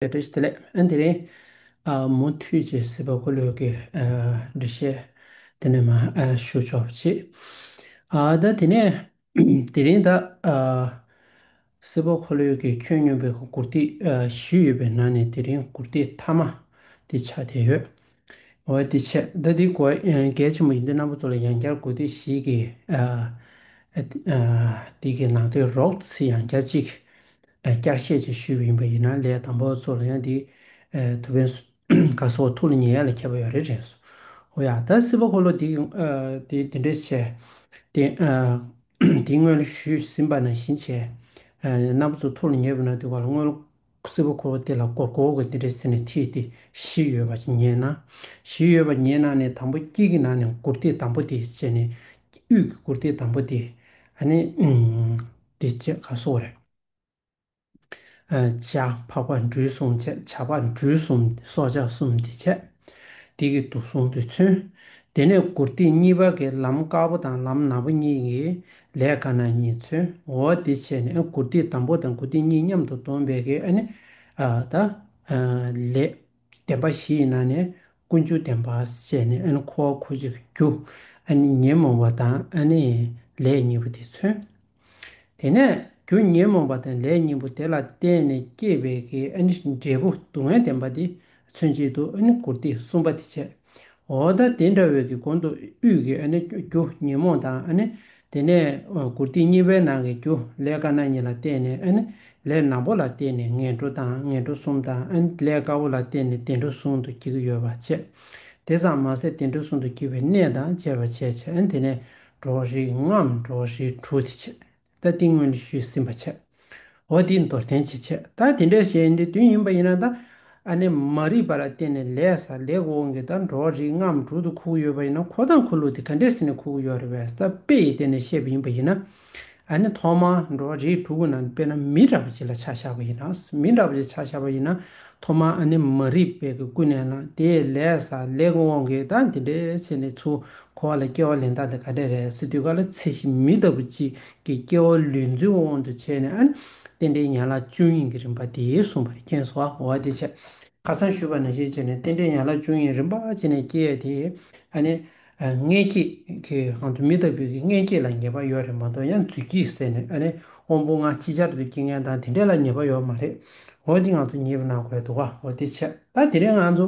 ལས་འབྲས་དེ་ལས་ཨ་དེ་རིང། མུ་མཐུད་ཅེས་སྲིད་པ་འཁོར་ལོས་ཀྱི་འགྲེལ་བཤད་དེ་ནས་མ་ཞུ་ཆོག་པ་བྱས། ད་དེ་ནས་དེ་རིང་ད། སྲིད་པ་འཁོར་ལོས་ཀྱི་ཁྱོན་སྙོམས་པའི་མགུར་སྟེགས་བཞི་ཡོད་པའི་ནང་ནས་དེ་རིང་མགུར་སྟེགས་མཐའ་མ་དེ་ཆགས་བསྡད་ཡོད། འོད་དེ་ཆེ་ད་དེའི་གོ་གལ་ཆེན་པོ་ཡིན་དུས་རྣམ་པ་ཚོ་ལ་ཡང་བསྐྱར་དགོས་དུས་ཤིག་གིས་དེ་གི་ནང་དོན་རོགས་ཚིག་ཡང་བསྐྱར་གཅིག་བསྐྱར་བཤད་ཅིག་ཞུས་པ་ཡིན་པ་ཡིན་ན་ལས་དང་པོ་ཚོ་ལ་ཡང་དེ་ཐུགས་ཕན་དགའ་སོ་ཐུགས་ལ་ཉེ་ཡ་ལ་ཁྱབ་པ་ཡོད་རེད་དྲན་སོང་ཨོ་ཡ་ད་སྲིད་པ་འཁོར་ལོ་འདི་འདི་འདྲའི་ཆེ་དེ་དེའི་སྔོན་ལ་ཞུས་ཟིན་པ་ནང་བཞིན་བྱས་རྣམ་པ་ཚོ་ཐུགས་ལ་ཉེ་བའི་ནང་དུ་བ་ལ་དངུལ་སེར་པོ་འཁོར་བ་དེ་ལ་སྒོར་གོ་བ་དེ་འདྲའི་ཟེར་ནས་ཐིག་སྟེ་བཞི་ཡོད་པ་ཉན་ན། བཞི་ཡོད་པ་ཉན་ན་ནི་དང་པོ་དཀྱིལ་གྱི་ནང་ནས་མགུར་སྟེགས་དང་པོ་དེ་བཅད་ནས། དབུས་ཀྱི་མགུར་སྟེགས་དང་པོ་དེ། ནི། འདི་བཅད་ག་སོགས་རེ། བྱ། འཕགས་པ་འབྲུ་གསུམ་བཅད་བྱ་འཕགས་འབྲུ་གསུམ་སྲོག་ཆགས་གསུམ་འདི་བཅད། འདི་གི་དུག་གསུམ་དུས་མཚོན། དེ་ནས་མགུར་སྟེགས་གཉིས་པ་གི་ལམ་དཀར་པོ་དང་ལམ་ནག་པོ་གཉིས་ཀྱིས་ལས་དཀའ་ན་གཉིས་མཚོན་འོ་འདི་བྱས་ནས་དགུ་སྡིག་དང་པོ་དང་དགུ་སྡིག་གཉིས་མཉམ་དུ་སྡོམ་པའི་གེགས་ནི། ད། ལས། བདེན་པ་བཞི་ཡི་ནང་ནས་ཀུན་འབྱུང་བདེན་པ་བཤད་ནས་འཁོར་བ་འཁོར་བྱེད་རྒྱུ། ཉོན་མོངས་པ་དང་ལས་གཉིས་པོ་དེ་མཚོན། དེ་ནས་རྒྱུ་ཉོན་མོངས་པ་དང་ལས་གཉིས་པོ་དེ་ལ་བརྟེན་ནས་སྐྱེས་པའི་གེགས་ནི་འབྲས་བུ་སྡུག་བསྔལ་བདེན་པ་དེ་མཚོན་བྱེད་དུ་ཨ་ནི་བཀུར་སྟི་གསུམ་པ་དེ་བྱེད། འོ་ད་དེ་འདྲ་བའི་གི་དགོན་དུ་དབུས་ཀྱི་ཨ་ནི་རྒྱུ་ཉོན་མོངས་དང་ཨ་ནི་དེ་ནས་བཀུར་སྟི་གཉིས་པའི་ནང་གི་རྒྱུ་ལས་དཀར་ནག་གཉིས་ལ་བརྟེན་ནས་ཨ་ནི་ལས་ནག་པོ་ལ་བརྟེན་ནས་ངན་འགྲོ་དང་ངན་འགྲོ་གསུམ་དང་ཨ་ནི་ལས་དཀར་པོ་ལ་བརྟེན་ནས་བདེ་འགྲོ་ཟུང་དུ་བགྱི་གི་ཡོད་པ་བྱེད། དེ་ཙམ་མ་ཟད་བདེ་འགྲོ་ཟུང་དུ་བགྱི་བའི་གནས་དང་བཅས་པ་བྱེད། ཨ་ནི་དེ་ནས་འགྲོ་བ་རིགས་ལྔའམ་འགྲོ་བ་རིགས་དྲུག་དེ་བྱེད། ད་ཏིང་སྔོན་ནས་ཞུས་ཟིན་པ་ཆད། འོ་དེ་མདོར་བསྟན་བྱེད་ཆད་ད་དེ་འདྲའི་ཞེས་འདི་དོན་ཡིན་པ་ཡིན་ན་ད་ཨ་ནེ་མ་རིག་པ་ལ་བརྟེན་ནས་ལས་ས་ལེགས་འོང་གི་ད་འགྲོ་བ་རིགས་ལྔའམ་དྲུག་ཏུ་ཁུག་ཡོད་པ་ཡིན་ན་ཁོ་དང་ཁོ་ལུགས་དེ་ག་འདྲའི་ཟིན་ནས་ཁུག་ཡོད་རེད་བས་ད་དཔེ་ཡི་སྟེང་ནས་བཤད་པ་ཡིན་པ་ཡིན་ན་ཨ་ནེ་ཐོག་མར་འགྲོ་བ་རིགས་དྲུག་གི་ནང་དཔེར་ན་མི་འདྲ་བ་གཅིག་ལ་ཆ་བཞག་པ་ཡིན་ན་མི་འདྲ་བ་གཅིག་ཆ་བཞག་པ་ཡིན་ན་ཐོག་མར་ཨ་ནེ་མ་རིག་པའི་གི་ཀུན་ནས་ལ་དེས་ལས་ས་ལེགས་འོང་གི་ད་འདི་འདྲའི་བྱས་ནས་ཚུལ་འཁོར་བ་ལ་སྐྱེ་བ་ལེན་སྟངས་དེ་ག་འདྲས་རེད་སེ་དུས་བཀའ་ལ་ཚེ་གཞི་མི་ལྟ་བུ་གཅིག་གི་སྐྱེ་བ་ལུས་འཛིན་དབང་དུ་བྱས་ནས་ཨ་ནི་རྟེན་འབྲེལ་ཡན་ལག་བཅུ་གཉིས་ཀྱི་རིམ་པ་དེ་གསུངས་པ་རེད་མཁྱེན་སོ་འོ་དེ་ཆ་ཁ་སང་ཞུས་པ་ནང་བཞིན་བྱས་ནས་རྟེན་འབྲེལ་ཡན་ལག་བཅུ་གཉིས་རིམ་པ་བྱས་ནས་སྐྱེ་ཡས་དེ་ཨ་ནི་མངལ་སྐྱེས་ཀྱི་ངང་དུ་མི་ལྟ་བུ་གི་མངལ་སྐྱེས་ལ་ཉེས་པ་ཡོད་རེད་མ་གཏོགས་ཡང་རྫུས་སྐྱེས་ཟེར་ནས་ཨ་ནི་དབང་པོ་ལྔ་ཅིག་ཅར་དུ་སྐྱེ་མཁན་དང་དེ་འདྲས་ལ་ཉེས་པ་ཡོད་མ་རེད་འོ་དེ་ང་ཚོ་ངེས་པ་གནང་དགོས་འདུག་ག་འོ་དེ་ཆ་ད་དེ་རིང་ང་ཚོ།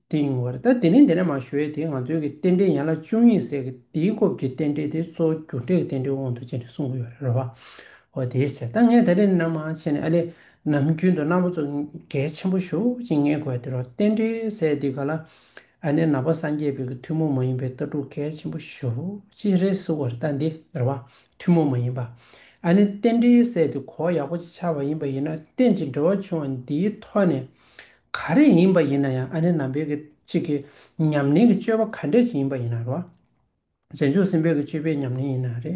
དེ་ཡིན་ངོ། ད་དེ་ནས་འདི་ནས་མ་ཞུ་ཡས་དེ་ང་ཚོའི་གི་རྟེན་འབྲེལ་ཡན་ལག་བཅུ་གཉིས་ཟེར་གི་དེའི་སྐོར་གི་རྟེན་འབྲེལ་དེ་གཙོ་བོ་རྒྱུ་འབྲས་ཀྱི་རྟེན་འབྲེལ་དབང་དུ་བྱས་ནས་གསུང་གི་ཡོད་རེད་རེད་བ། འོ་དེའི་ཟེར་ད་ངས་ད་རེས་འདི་ནས་མ་བྱས་ནས་ཨ་ལས་ནམ་རྒྱུན་དུ་རྣམ་པ་ཚོ་གལ་ཆེན་པོ་ཞུགས་ཅིག་ངས་གོ་ཡ་དེ་རོ་རྟེན་འབྲེལ་ཟེར་དེ་ག་ལ་ཨ་ནེ་ན་བ་སངས་རྒྱས་བོད་ཀྱི་ཐུན་མོང་མ་ཡིན་པའི་ལྟ་གྲུབ་གལ་ཆེན་པོ་ཞུགས་ཅིག་རེད་གསུང་གི་རེད་ད་འདི་རེད་བ། ཐུན་མོང་མ་ཡིན་པ་ཨ་ནེ་རྟེན་འབྲེལ་ཟེར་དེ་གོ་ཡག་པོ་ཅིག་ཆགས་པ་ཡིན་པ་ཡིན་ན་གཏན་གྱི་འབྲེལ་བ་བྱུང་བ་འདིའི་ཐོག་ནས་ག་རེ་ཡིན་པ་ཡིན་ན་ཡང་ཨ་ནེ་ནམ་འབེལ་གྱི་གཅིག་གི་ཉམས་ལེན་གྱི་སྤྱོད་པ་ག་འདྲས་ཅིག་ཡིན་པ་ཡིན་ན་རོ། རྗེས་འཇུག་སེམས་དཔའི་གྱི་སྤྱོད་པའི་ཉམས་ལེན་ཡིན་ན་རེ།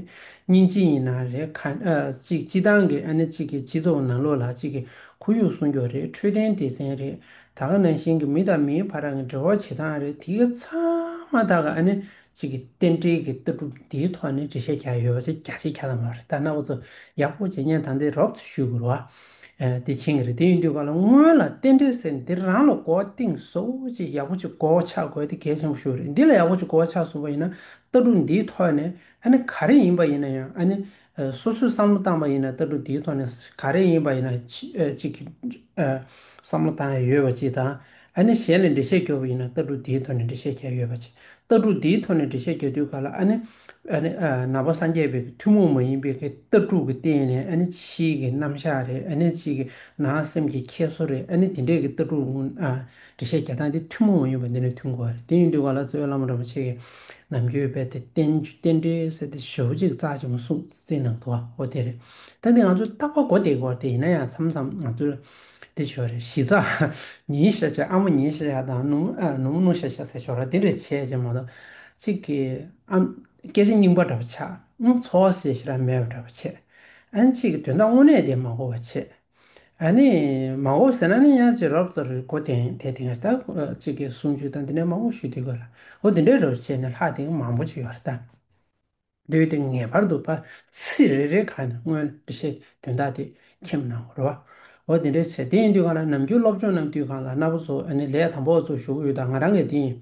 གཉིས་ཅི་ཡིན་ན་རེ་ག་གཅིག་སྤྱི་བཏང་གི་ཨ་ནེ་གཅིག་གི་སྤྱི་ཚོགས་ནང་ལོག་ལ་གཅིག་གི་ཁོར་ཡུག་སྲུང་སྐྱོབ་རེ་འཕྲོད་བསྟེན་སྡེ་ཚན་རེ་ད་ག་ནང་བཞིན་གྱི་མི་དང་མིའི་བར་གྱི་འབྲེལ་བ་བྱེད་སྟངས་རེ་དེ་ག་ཚང་མ་དག་གི་ཨ་ནེ་གཅིག་གི་རྟེན་འབྲེལ་གྱི་ལྟ་གྲུབ་འདིའི་ཐོག་ནས་འགྲེལ་བཤད་རྒྱག་ཡོད་པ་ཆེ་རྒྱ་ཆེ་ག་ཚང་མ་རེད་ད་ནག་པོ་ཚོ་ཡག་པོ་བྱེད་ཉན་དང་དེ་རོབ་ཚོ་ཞུ་དགོས་རོ། དེ་ཁྱེད་ཀྱི་རེད་དེ་ཡིན་དུས་ག་ལ་སྔོན་ལ་བསྟན་འགྲོའི་ཟེར་འདིར་རང་ལ་གོ་བ་གཏིང་ཟོ་ཅིག་ཡག་པོ་ཅིག་གོ་བ་ཆགས་དགོས་དེ་གལ་ཆེན་པོ་ཤོས་རེད་འདི་ལ་ཡག་པོ་ཅིག་གོ་བ་ཆགས་སོང་བ་ཡིན་ན་ལྟ་གྲུབ་འདིའི་ཐོག་ནས་ཨ་ནི་ག་རེ་ཡིན་པ་ཡིན་ན་ཡང་ཨ་ནི་སོ་སོས་བསམ་བློ་བཏང་པ་ཡིན་ན་ལྟ་གྲུབ་འདིའི་ཐོག་ནས་ག་རེ་ཡིན་པ་ཡིན་ན་ཅིག་གིས་བསམ་བློ་བཏང་ཡས་ཡོད་པ་ཅིག་དང། ཨ་ནི་གཞན་ལས་འགྲེལ་བཤད་རྒྱོབ་པ་ཡིན་ན་ལྟ་གྲུབ་འདིའི་ཐོག་ནས་འགྲེལ་བཤད་རྒྱ་ཡོད་པ་བྱེད། ལྟ་གྲུབ་འདིའི་ཐོག་ནས་འགྲེལ་བཤད་རྒྱ་དུས་ག་ལ་ཨ་ནི། ཨ་ནི། ནང་པ་སངས་རྒྱས་བོད་ཀྱི་ཐུན་མོང་མ་ཡིན་པའི་ཀྱི་ལྟ་གྲུབ་ཀྱི་སྟེང་ནས་ཨ་ནི་ཕྱིའི་ཀྱི་རྣམ་གཞག་རེད་ཨ་ནི་ཕྱིའི་ཀྱི་ནང་སེམས་ཀྱི་ཁྱད་གསོ་རེད་ཨ་ནི་དེ་འདྲའི་ཀྱི་ལྟ་གྲུབ་ཀྱི་འགྲེལ་བཤད་རྒྱ་སྟངས་དེ་ཐུན་མོང་མ་ཡིན་པ་འདི་ནས་མཐུན་དགོས་པ་རེད་དེ་ཡིན་དུས་ག་ལ་གཙོས་བླ་མ་རིན་པོ་ཆེ་ཀྱི་ནམ་རྒྱུན་དཔལ་དེ་རྟེན་རྟེན་འབྲེལ་ཟེར་དེ་ཞོལ་གཅིག་རྩ་ཆེན་མོ་སྲུང་བརྩི་གནང་འདུག་ཨོ་དེ་རེད་ད་འདི་ང་ཚོས་རྟག་པ་གོ་བདེ་གི་བར་དེ་ཡིན་ན་ཡང་མཚམས་མཚམས་ང་ཚོས། འདི་བྱོ་རེ་གཞི་རྩ། ཉིན་ཞག་བྱ་ཨ་མ་ཉིན་ཞག་བྱ་དང་ནུ་མོ་ནུ་ཞག་བྱ་ཟེར་ཆོག་ར་དེ་རེ་བྱས་བྱས་མ་གཏོགས། གཅིག་གིས་ཨ་སྐད་ཆ་རྙིང་པ་འདྲ་པོ་ཆགས། འཚོ་བ་ཟེར་ཤེས་རབ་མེད་པ་འདྲ་པོ་བྱས། ཨན་གཅིག་གིས་དོན་དག་དངོས་གནས་དེ་མ་གོ་བ་བྱས། ཨ་ནི་མ་གོ་བ་ཟེར་ན་ནི་ཡང་ཅིག་རོབ་རྩ་རུས་གོ་དེང་དེ་དེང་ད་གཅིག་གིས་གསུམ་བཅུ་དང་འདི་འདྲའི་མང་པོ་ཞུས་དེ་དགོས་ལ་འོ་འདི་འདྲའི་རོབ་བྱས་ནས་ལྷག་དེང་མང་པོ་ཅིག་ཡོད་རེད་ད། འདོད་དེ་ངེས་པར་དུ་པར་ཚིག་རེ་རེའི་ཁ་ནས་སྔོན་ལ་འབྲི་བྱའི་དོན་དག་དེ་མཁྱེན་གནང་བར་རོ། འོ་དེ་འདྲའི་ཕྱིར་དེ་ཡིན་དུས་གང་ལ་ནམ་རྒྱུན་སློབ་སྦྱོང་རྣམས་དུས་གང་ལ་ན་བོ་ཚོ་ནི་ལས་དང་པོ་ཚོ་ཞུགས་ཡུལ་དང་ང་རང་གི་དེ་ཡིན།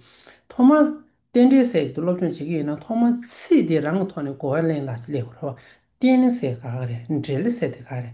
ཐོག་མར་རྟེན་འབྲེལ་སེལ་གྱི་སློབ་སྦྱོང་བྱེད་ཀྱི་ཡིན་ན་ཐོག་མར་ཚིག་དེ་རང་གི་ཐོག་ནས་གོ་བ་ལེན་ལ་སླེབས་དགོས། རྟེན་ནི་སེལ་ག་ག་རེད་འབྲེལ་སེལ་དེ་ག་ག་རེད།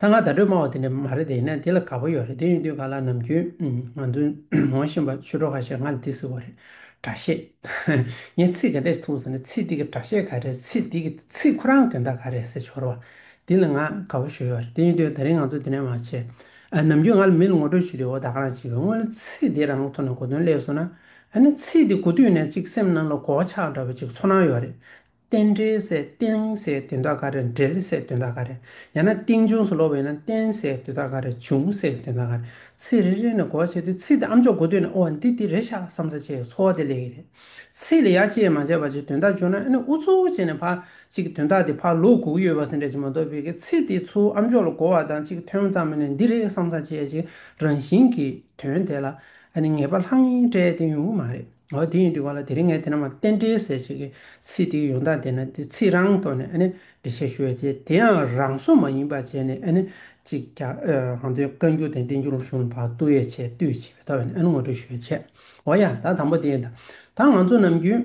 ད་ང་བརྡ་སྤྲོད་སྨྲ་བ་དེ་འདྲ་མ་རེད་དེ་ཡིན་ན་དེ་ལ་དགའ་པོ་ཡོད་རེད་དེ་ཡིན་དུས་ག་ལ་ནམ་རྒྱུན་ང་ཚོ་ངོ་ཤེས་པ་ཆུ་གྲོགས་ཁ་ཤས་ང་ལ་འདི་ཟེར་བ་རེད་དྲ་བཤད་ངས་ཚིག་ག་འདྲས་འཐུང་ཟེར་ན་ཚིག་འདི་གི་དྲ་བཤད་ག་རེད་ཚིག་འདི་གི་ཚིག་ཁོ་རང་དོན་དག་ག་རེད་ཟེར་ཞོར་བ་འདི་ལ་ང་དགའ་བོ་ཞུ་ཡོད་རེད་དེ་ཡིན་དུས་ད་རིང་ང་ཚོ་དེ་འདྲ་མ་བྱེད་ནམ་རྒྱུན་ང་ལ་མི་ལ་ངོ་སྤྲོད་བྱེད་དུས་འོ་ད་ག་རང་བྱེད་དགོས་དངོས་ན་ཚིག་འདི་རང་ཐོག་ནས་གོ་དོན་ཀླད་སོང་ན་ཨ་ནི་ཚིག་འདི་གོ་དུས་ནས་ཅིག་སེམས་ནང་ལ་གོ་བ་ཆགས་འདྲ་བོ་ཅིག་ཚོར་སྣང་ཡོད་རེད་རྟེན་འབྲེལ་བསལ་རྟེན་བསལ་དོན་དག་ག་རེ་འབྲེལ་བསལ་དོན་དག་ག་རེ་ཡང་ན་རྟེན་འབྱུང་སོགས་ལོག་པའི་ན་རྟེན་བསལ་དོན་དག་ག་རེ་འབྱུང་བསལ་དོན་དག་ག་རེ་ཚིག་རེ་རེ་ནས་གོ་བ་བྱས་ཏེ་ཚིག་དེ་ཨམ་ཅོག་གོ་དུས་ན་ཨོ་འདི་འདི་རེད་ཤག་བསམ་ས་བྱས་ཀྱི་འཚོ་བ་དེ་ལས་ཀྱི་རེད། ཚིག་ལ་ཡ་བཅད་མ་བྱས་པ་བྱས་དོན་དག་འབྱུང་ན་ཨེ་ནོ་འུ་ཚོ་བྱས་ནས་ཕར་ཅིག་གི་དོན་དག་དེ་ཕར་ལོག་གུག་གཡོ་བ་ཟིན་འདྲ་ཅིག་མ་གཏོགས་བོད་ཀྱི་ཚིག་དེ་ཚོ་ཨམ་ཅོག་ལ་གོ་བ་དང་ཅིག་ཐོན་མཚམས་མེད་ནས་འདི་རེད་བསམ་ས་བྱས་ཀྱི་རང་བཞིན་གྱི་དོན་དེ་ལ་ཨ་ནི་ངེས་པ་ལྷང་ངེས་སྤྲད་དེ་ཡོང་གི་མ་རེད། འོ་དེ་ཡིན་དུས་ག་ལ་དེ་རིང་ངས་དེ་རྣམས་ལ་རྟེན་འབྲེལ་ཟེར་བྱེད་ཀྱི་ཚིག་དེའི་ཡོང་སྟངས་དེ་ན་དེ་ཚིག་རང་ཐོག་ནས་འབྲི་བྱེད་ཞུ་བའི་རྗེས་དེའང་རང་སོ་མ་ཡིན་པ་བྱས་ནས་གཅིག་ཀྱང་གང་འདོད་བཀའ་འགྱུར་དང་བསྟན་འགྱུར་རུ་ཞུ་ན་བར་དོ་ཡོད་ཆེ་བསྟོད་བྱེད་པའི་ཐོག་ནས་ངོ་སྤྲོད་ཞུ་བའི་ཆེད་འོ་ཡ་ད་དང་པོ་དེ་ཡིན་ད་ང་ཚོ་ནམ་རྒྱུན།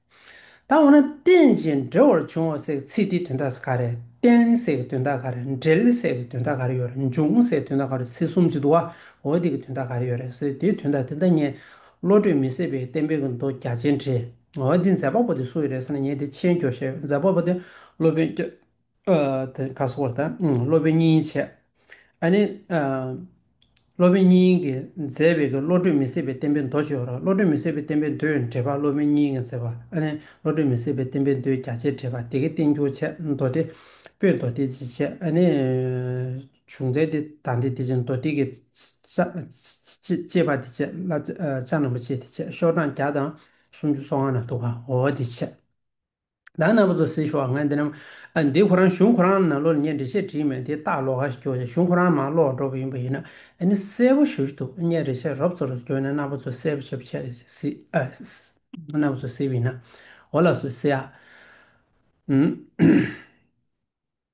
ད་འོ་ན་རྟེན་ཅིང་འབྲེལ་བར་འབྱུང་བ་སའི་ཚིག་དེའི་དོན་དག་ག་རེད་རྟེན་སའི་གི་དོན་དག་ག་རེད་འབྲེལ་སའི་གི་དོན་དག་ག་རེ་ཡོད་རེད་འབྱུང་སའི་དོན་དག་ག་རེ་ཚིག་གསུམ་གཅིག་ཏུ་བ་འོ་དེ་གི་དོན་དག་ག་རེ་ཡོད་རེད་ཟེར་དེའི་དོན་དག་དེ་ལྟ་ངས་བློ་གྲོས་མི་ཟད་པའི་བསྟན་པའི་གི་མདོ་རྒྱ་ཆེན་བྲིས་འོ་འདི་མཛད་པ་པོ་དེ་སུ་ཡིན་རེད་ཟེར་ན་ངས་དེ་ཆེན་སྐྱོ་ཞེས་མཛད་པ་པོ་དེ་སློབ་དཔོན་སྐྱོ། དེ་ཁ་སོ་བ་དང་སློབ་དཔོན་གཉིས་འཆད། ཨ་ནི། སློབ་དཔོན་གཉིས་ཀྱིས་མཛད་པའི་བཀའ་བློ་གྲོས་མི་ཟད་པའི་བསྟན་པའི་མདོ་བཅུ་བློ་གྲོས་མི་ཟད་པའི་བསྟན་པའི་མདོའི་འགྲེལ་པ་སློབ་དཔོན་གཉིས་ཀྱིས་མཛད་པ་ཨ་ནི་བློ་གྲོས་མི་ཟད་པའི་བསྟན་པའི་མདོའི་རྒྱ་ཆེར་འགྲེལ་པ་སྡེ་དགེ་བསྟན་འགྱུར་འཆད་མདོ་སྡེ་སྤོས་མདོ་སྡེ་བཞི་འཆད་ཨ་ནི། བྱུང་ཚད་འདི་དང་འདི་དེ་བཞིན་མདོ་སྡེ་དགེ། ཅེས་པ་འདི་འཆད་བླ་བྱ་རྣམ་པ་ཅེས་འདི་འཆད་ཤོག་གྲངས་བརྒྱ་དང་སུམ་ཅུ་སོ་ལྔ་ན་འདུག་པ་འོ་འདི་འཆད། བདག་རྣམ་པ་ཚོ་སེ་ཞོག་ང་འདི་རྣམས་འདི་ཁོ་རང་གཞུང་ཁོ་རང་ནང་ལོག་ལ་ཉན་འདྲི་བཤད་བྲིས་མེད་དེ་སྟག་ལོག་ག་ཞིག་གྱོགས་ཀྱང་གཞུང་ཁོ་རང་མང་ལོག་འགྲོ་བ་ཡིན་པ་ཡིན་ན་ནི་གསལ་པོ་ཞུ་རྒྱུ་འདུག་བརྙན་རེ་ཤག་རོབ་ཚོ་རུ་བྱོན་ནས་རྣམ་པ་ཚོ་གསལ་པོ་བྱེད་པ་བྱེད་སྲིད་རྣམ་པ་ཚོ་གསལ་པོ་ཡིན་ན་འོ་ལགས་སུ་གསལ་ཨ།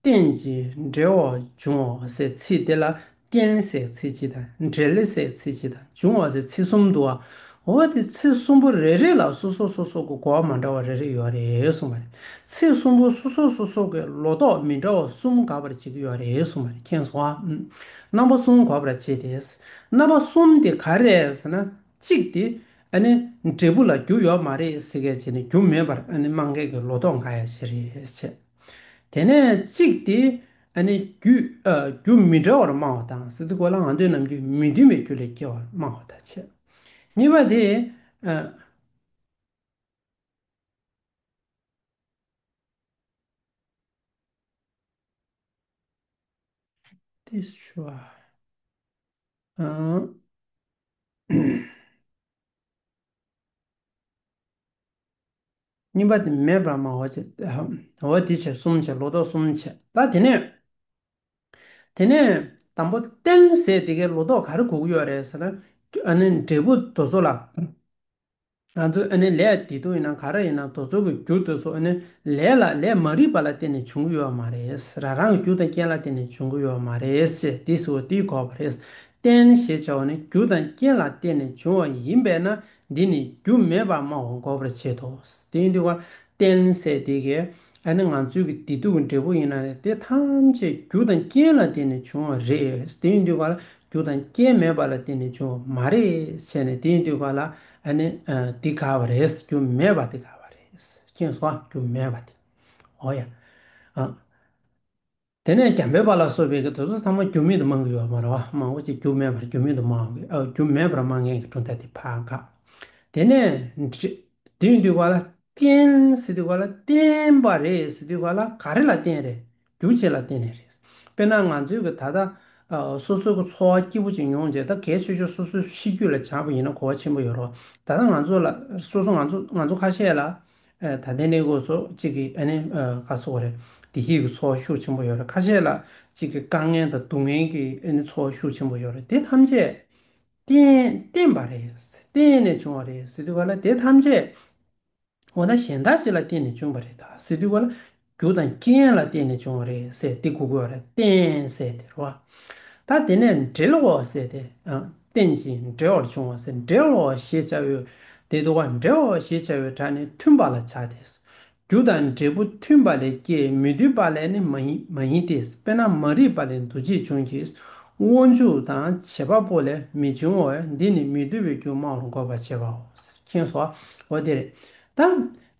རྟེན་ཅིང་འབྲེལ་བར་འབྱུང་བ་སའི་ཚིག་དེ་ལ་རྟེན་སའི་ཚིག་སྤྱི་དང་འབྲེལ་སའི་ཚིག་སྤྱི་དང་འབྱུང་བ་སའི་ཚིག་གསུམ་དུའོ། འོ་དེ་ཚིག་གསུམ་པོ་རེ་རེ་ལ་སོ་སོ་སོ་སོ་གི་གོ་བ་མ་འདྲ་བ་རེ་རེ་ཡོད་རེད་གསུངས་པ་རེད། ཚིག་གསུམ་པོ་སོ་སོ་སོ་སོ་གི་ལོ་ཏོག་མི་འདྲ་བ་གསུམ་དགག་པར་བྱེད་ཀྱི་ཡོད་རེད་གསུངས་པ་རེད་མཁྱེན་སོང་ཨ། རྣམ་པ་གསུམ་གོ་བར་བྱེད་དེ། རྣམ་པ་གསུམ་དེ་ག་རེད་ཟེར་ན་གཅིག་དེ་ཨ་ནི་འབྲས་བུ་ལ་རྒྱུ་ཡོད་མ་རེད་ཟེར་མཁན་བྱས་ནས་རྒྱུ་མེད་པར་ཨ་ནི་དམངས་མཁན་གྱི་ལོ་ཏོག་འགའ་ཡང་བྱེད་རེད་བྱེད། དེ་ནས་གཅིག་དེ་རྒྱུ་མི་འདྲ་བར་སྨྲ་བ་དང་སི་ཏུ་གོ་ལ་ང་འདོད་རྣམས་རྒྱུ་མི་མཐུན་པའི་རྒྱུ་ལས་སྐྱེ་བར་སྨྲ་བ་དང་ཕྱེད། གཉིས་པ་དེ། གཉིས་པ་དེ་མེད་པར་སྨྲ་བ་བྱེད། འོ་དེ་བྱེད་གསུམ་བྱེད་ལོ་ཏོག་གསུམ་བྱེད། ད་དེ་ནས། དེ་ནས་དང་པོ་བསྟན་ཟེར་དེ་གའི་ལོ་ཏོག་ག་རེ་དགོས་ཀྱི་ཡོད་རེད་ཟེར་ན། ཨ་ནི་འབྲས་བུ་དོལ་ཚོགས་ལ། ང་ཚོས་ཨ་ནི་ལས་དེ་དུ་ཡིན་ན་ག་རེ་ཡིན་ན་དོལ་ཚོགས་ཀྱི་རྒྱུ་དོལ་ཚོགས་ཨ་ནི་ལས་ལ་ལས་མ་རིག་པ་ལ་བརྟེན་ནས་བྱུང་གི་ཡོད་བ་མ་རེད། རང་རང་གི་རྒྱུ་དང་རྐྱེན་ལ་བརྟེན་ནས་བྱུང་གི་ཡོད་བ་མ་རེད་ཅེས་འདི་ཟེར་བ་འདིས་གོ་བ་རེད། བསྟན་ཞེས་བྱ་བ་ནི་རྒྱུ་དང་རྐྱེན་ལ་བརྟེན་ནས་བྱུང་བ་ཡིན་པས་ན་འདི་ནི་རྒྱུ་མེད་པར་སྨྲ་བ་འགོག་པར་བྱེད་དོ། དེ་ཡིན་དུ་བ་རྟེན་སེལ་ཏེ་ཀྱི། ཨ་ནི་ང་ཚོའི་ཀྱི་བདེ་སྡུག་གི་འབྲས་བུ་ཡིན་ན་ནི་དེ་ཐམས་ཅད་རྒྱུ་དང་རྐྱེན་ལ་བརྟེན་ནས་བྱུང་བ་རེད། དེ་ཡིན་དུ་བ་ལ་རྒྱུ་དང་རྐྱེན་མེད་པ་ལ་བརྟེན་ནས་བྱུང་བ་མ་རེད་བྱས་ནས་དེ་ཡིན་དུ་བ་ལ་ཨ་ནི་འདི་དགའ་བ་རེད་རྒྱུ་མེད་པ་འདི་དགའ་བ་རེད་ཀྱི། རྒྱུ་མེད་པ་འདི་འོ་ཡ། དེ་ནས་རྒྱ་འབོད་པ་ལ་སོགས་པའི་དུས་ཚོད་ཚང་མ་རྒྱུ་མེད་དུ་སྨྲ་མཁན་ཡོད་མ་རེད་བ། མང་བོ་ཅིག་རྒྱུ་མེད་པར་རྒྱུ་མེད་དུ་སྨྲརྒྱུ་མེད་པར་སྨྲ་མཁན་གྱི་གྲུབ་མཐའ་དེ་ཕ་དགའ། དེ་ནས། དེའི་དུས་བ་ལ་བརྟེན། སི་དུས་བ་ལ་བརྟེན་པ་རེད་སི་དུས་བ་ལ་ག་རེ་ལ་བརྟེན་རེད། རྒྱུ་བྱེད་ལ་བརྟེན་ནས་རེད། དཔེར་ན་ང་ཚོས་ཀྱི་ད་ལྟ། སོ་སོའི་གི་འཚོ་བ་སྐྱིད་པོ་ཅིག་མྱོང་བྱེད་ད་གལ་ཆེ་ཆོས་སོ་སོའི་གཤིས་རྒྱུད་ལ་བྱ་བ་ཡིན་ན་གོ་བ་ཆེན་པོ་ཡོད་རོགས། ད་ལྟ་ང་ཚོ་ལ་སོ་སོ་ང་ཚོ་ང་ཚོ་ཁ་ཤས་ལ། ད་ལྟའི་གནས་སྐོར་སོགས་གཅིག་གིས་ཨ་ནི་ཁ་གསོ་བ་རེད། བདེ་སྐྱིད་ཀྱི་ཚོར་བ་ཤུགས་ཆེན་པོ་ཡོད་རེད་ཁ་ཤས་ལ་གཅིག་གིས་དཀའ་ངལ་དང་སྡུག་བསྔལ་གྱི་ཨ་ནི་ཚོར་བ་ཤུགས་ཆེན་པོ་ཡོད་རེད་དེ་ཐམས་ཅད་བརྟེན་པ་རེད། བརྟེན་ནས་བྱུང་བ་རེད་ཟེར་དུས་ག་ལ་དེ་ཐམས་ཅད་འོ་ན་གཞན་དག་ཅི་ལ་བརྟེན་ནས་བྱུང་བ་རེད་ད་ཟེར་དུས་ག་ལ། རྒྱུ་དང་རྐྱེན་ལ་བརྟེན་ནས་བྱུང་བ་རེད་ཟེར་ཏེ་གུ་གུལ་བ་རེ་བསྟན་ཟེར་ཏེ་རོ། ད་དེ་ནས་འབྲེལ་བའོ་ཟེར་ཏེ་བསྟན་ཅིང་འབྲེལ་བར་བྱུང་བ་ཟེར་འབྲེལ་བའོ་ཞེས་བྱ་བའི་དེ་དུ་བ་འབྲེལ་བའོ་ཞེས་བྱ་བའི་སྒྲ་ནི་མཐུན་པ་ལ་བྱ་སྟེ། རྒྱུ་དང་འབྲས་བུ་མཐུན་པ་ལས་སྐྱེས་མི་འདུས་པ་ལས་ནི་མ་ཡིན་ཏེ་དཔེར་ན་མ་རིག་པ་ལས་འདུ་བྱེད་འབྱུང་གིས་དབང་ཕྱུག་དང་བྱེད་པ་པོ་ལས་མི་འབྱུང་བས་འདི་ནི་མི་འདུལ་བའི་རྒྱུ་སྨྲ་བར་འགོད་པར་བྱེད་པའོ། མཁྱེན་གསོ་བ་དེ་རེད་དེ།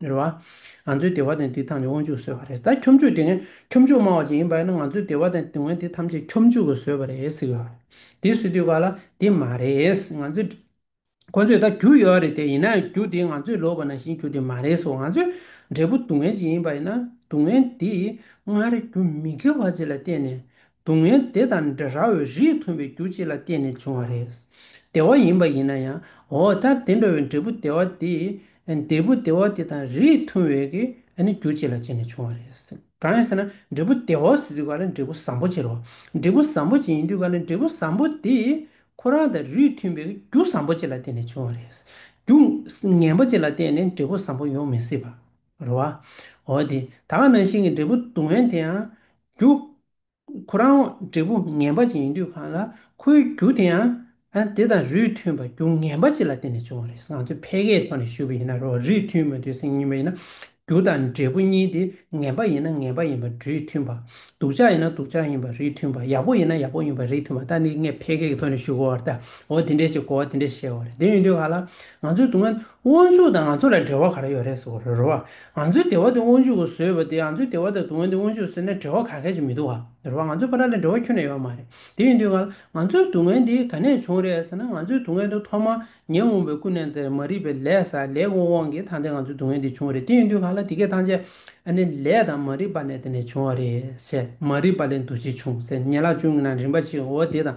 རེད་བ། ང་ཚོའི་བདེ་བ་དང་དེ་ཐམས་ཅད་དབང་ཕྱུག་གིས་བཟོས་པ་རེད་ད་ཁྱོ་མཆུ་དེ་ནི་ཁྱོ་མཆུ་སྨྲ་བ་ཅིག་ཡིན་པ་ཡིན་ན་ང་ཚོའི་བདེ་བ་དང་དེ་དབང་དེ་ཐམས་ཅད་ཁྱོ་མཆུ་གིས་བཟོས་པ་རེད་ཟེར་གི་ཡོད་རེད་དེ་སུས་བསྡུས་པ་ལ་དེ་མ་རེད་ང་ཚོས་ཁོ་ཚོས་ད་རྒྱུ་ཡོད་རེད་དེ་ཡིན་ན་ཡང་རྒྱུ་དེ་ང་ཚོས་ལོག་པ་ནང་བཞིན་རྒྱུ་དེ་མ་རེད་སོ་ང་ཚོའི་འབྲས་བུ་སྡུག་བསྔལ་ཅིག་ཡིན་པ་ཡིན་ན་སྡུག་བསྔལ་དེ་སྔར་རྒྱུ་མི་དགེ་བ་ཅིག་ལ་བརྟེན་ནས་སྡུག་བསྔལ་དེ་དང་འདྲ་བའི་རིས་མཐུན་པའི་རྒྱུ་གཅིག་ལ་བརྟེན་ནས་བྱུང་བ་རེད། བདེ་བ་ཡིན་པ་ཡིན་ན་ཡང་འོ་ད་དེ་འདྲ་བའི་འབྲས་བུ་བདེ་བ་དེ་འབྲས་བུ་བདེ་བ་དེ་དང་རིས་མཐུན་བའི་ཀྱི་རྒྱུ་གཅིག་ལ་བརྟེན་ནས་བྱུང་བ་རེད། གང་ཡིན་ཟེར་ན་འབྲས་བུ་བདེ་བ་ཟེར་དུས་ག་ལ་འབྲས་བུ་བཟང་པོ་གཅིག་རོ། འབྲས་བུ་བཟང་པོ་གཅིག་ཡིན་དུས་ག་ལ་འབྲས་བུ་བཟང་པོ་དེ་ཁོ་རང་དང་རིས་མཐུན་པའི་རྒྱུ་བཟང་པོ་གཅིག་ལ་བརྟེན་ནས་བྱུང་བ་རེད། རྒྱུ་ངན་པོ་གཅིག་ལ་བརྟེན་ནས་འབྲས་བུ་བཟང་པོ་ཡོང་མི་སྲིད་པ། རུ་བ། འོ་དེ་ད་ག་ནང་བཞིན་གྱི་འབྲས་བུ་སྡུག་བསྔལ་དེ་ཡང་རྒྱུ། ཁོ་རང་འབྲས་བུ་ངན་པ་ཅིག་ཡིན་དུས་གང་ལ་ཁོའི་རྒྱུ་དེ་ཡང། དེ་དང་རུས་མཐུན་པ་རྒྱུ་ངན་པ་ཅིག་ལ་བརྟེན་ནས་བྱུང་བ་རེད་ང་ཚོས་ཕལ་སྐད་ཐོག་ནས་ཞུས་པ་ཡིན་ན་རུས་མཐུན་མ་དུས་སེམས་གཉིས་པ་ཡིན་ན། རྒྱུ་དང་འབྲས་བུ་གཉིས་དེ་ངན་པ་ཡིན་ན་ངན་པ་ཡིན་པ་རུས་མཐུན་པ། སྡུག་ཅག་ཡིན་ན་སྡུག་ཅག་ཡིན་པ་རུས་མཐུན་པ་ཡག་པོ་ཡིན་ན་ཡག་པོ་ཡིན་པ་རིས་མཐུན་པ་ད་འདི་ངས་ཕལ་སྐད་ཀྱི་ཐོག་ནས་ཞུས་གོ་བ་རེད་ད་འོ་དེ་འདྲའི་ཞིག་གོ་བ་དེ་འདྲའི་ཞིག་བྱས་བ་རེད་དེ་ཡིན་དུས་ག་ལ་ང་ཚོའི་སྡུག་བསྔལ་དབང་ཕྱུག་དང་ང་ཚོ་ལ་འབྲེལ་བ་ག་རེ་ཡོད་རེད་ཟེར་བ་རེད་རོ། ང་ཚོའི་སྡེ་བ་དེ་དབང་ཕྱུག་གིས་བཟོས་པ་དེ་ང་ཚོའི་སྡེ་བ་དང་དུང་བ་དེ་དབང་ཕྱུག་གིས་བཟོས་ན་འབྲེལ་བ་ག་གལ་ཆེ་མི་འདུག་ག་རེད་རོ། ང་ཚོའི་ཕ་ར་ལ་འབྲེལ་བ་ཁྱོན་ནས་ཡོད་མ་རེད། དེ་ཡིན་དུས་ང་ལ་ང་ཚོའི་དུང་བ་འདི་ག་ནས་བྱུང་རེད་ཟེར་ན་ང་ཚོའི་དུང་བ་འདི་ཐོག་མར་ཉེ་འོང་པའི་ཀུན་ནས་དེར་མ་རིག་པའི་ལས་ས་ལས་ཀོང་དབང་གིས་ཐང་དེ་ང་ཚོའི་དུང་བ་འདི་བྱུང་རེད་དེ་ཡིན་དུས་ང་ལ་དེ་གས་ཐང་ཆད་ཨ་ནི་ལས་དང་མ་རིག་པ་ནས་དེ་ནས་བྱུང་བ་རེད་ཟེར་མ་རིག་པ་ལས་འདུ་བྱེད་བྱུང་ཟེར་ཉལ་ལག་ཅུང་གི་ནང་རིན་པ་ཞིག་འོ་དེ་དང་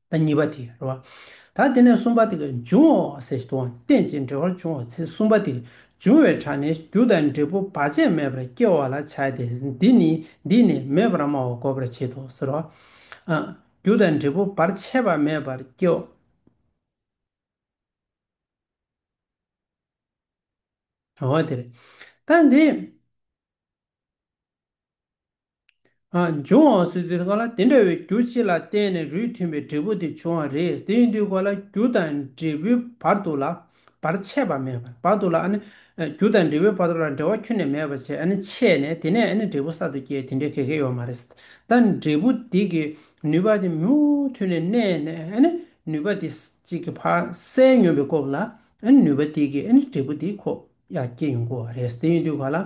ད་གཉིས་པ་དེ་རེད། ད་དེ་ནས་གསུམ་པ་དེ་འབྱུང་བའོ་ཟེར་བཞིན་དུའང་རྟེན་ཅིང་འབྲེལ་བར་འབྱུང་བ་ཚེ་གསུམ་པ་དེ་འབྱུང་བའི་གྲངས་ནི་རྒྱུ་དང་འབྲས་བུ་བར་ཆད་མེད་པར་སྐྱེ་བ་ལ་བྱ་སྟེ་འདི་ནི་འདིས་ནི་མེད་པར་སྨྲ་བ་གོ་བར་བྱེད་དོ་ཟེར་རོ། རྒྱུ་དང་འབྲས་བུ་བར་ཆད་པ་མེད་པར་སྐྱེ་བ། འོ་དེ་རེད། ད་འདི། འབྱུང་བའང་སྲིད་རྩེའི་གང་ལ་དེ་འདྲ་བའི་རྒྱུ་གཅིག་ལ་བརྟེན་ནས་རུས་མཐུན་པའི་འབྲས་བུ་དེ་འབྱུང་བ་རེད་དེ་ཡིན་དུས་གང་ལ་རྒྱུ་དང་འབྲས་བུའི་བར་དུ་ལ་བར་ཆད་པ་མེད་པར་བར་དུ་ལ་རྒྱུ་དང་འབྲས་བུའི་བར་དུ་ལ་འབྲེལ་བ་ཁྱོན་ནས་མེད་པར་བྱས་ཆད་ནས་དེ་ནས་འབྲས་བུ་གསར་དུ་སྐྱེ་དེ་འདྲའི་གལ་ཁེ་ཡོད་མ་རེད་ད་འབྲས་བུ་དེ་གི་ནུས་པ་དེ་མུ་མཐུད་ནས་གནས་ནས་ནུས་པ་དེ་གཅིག་གི་བར་གསལ་ཉོན་པའི་སྐོབས་ལ་ནུས་པ་དེ་གི་འབྲས་བུ་དེ་ཁོ་ཡར་སྐྱེ་ཡོང་དགོས་བ་རེད་དེ་ཡིན་དུས་གང་ལ།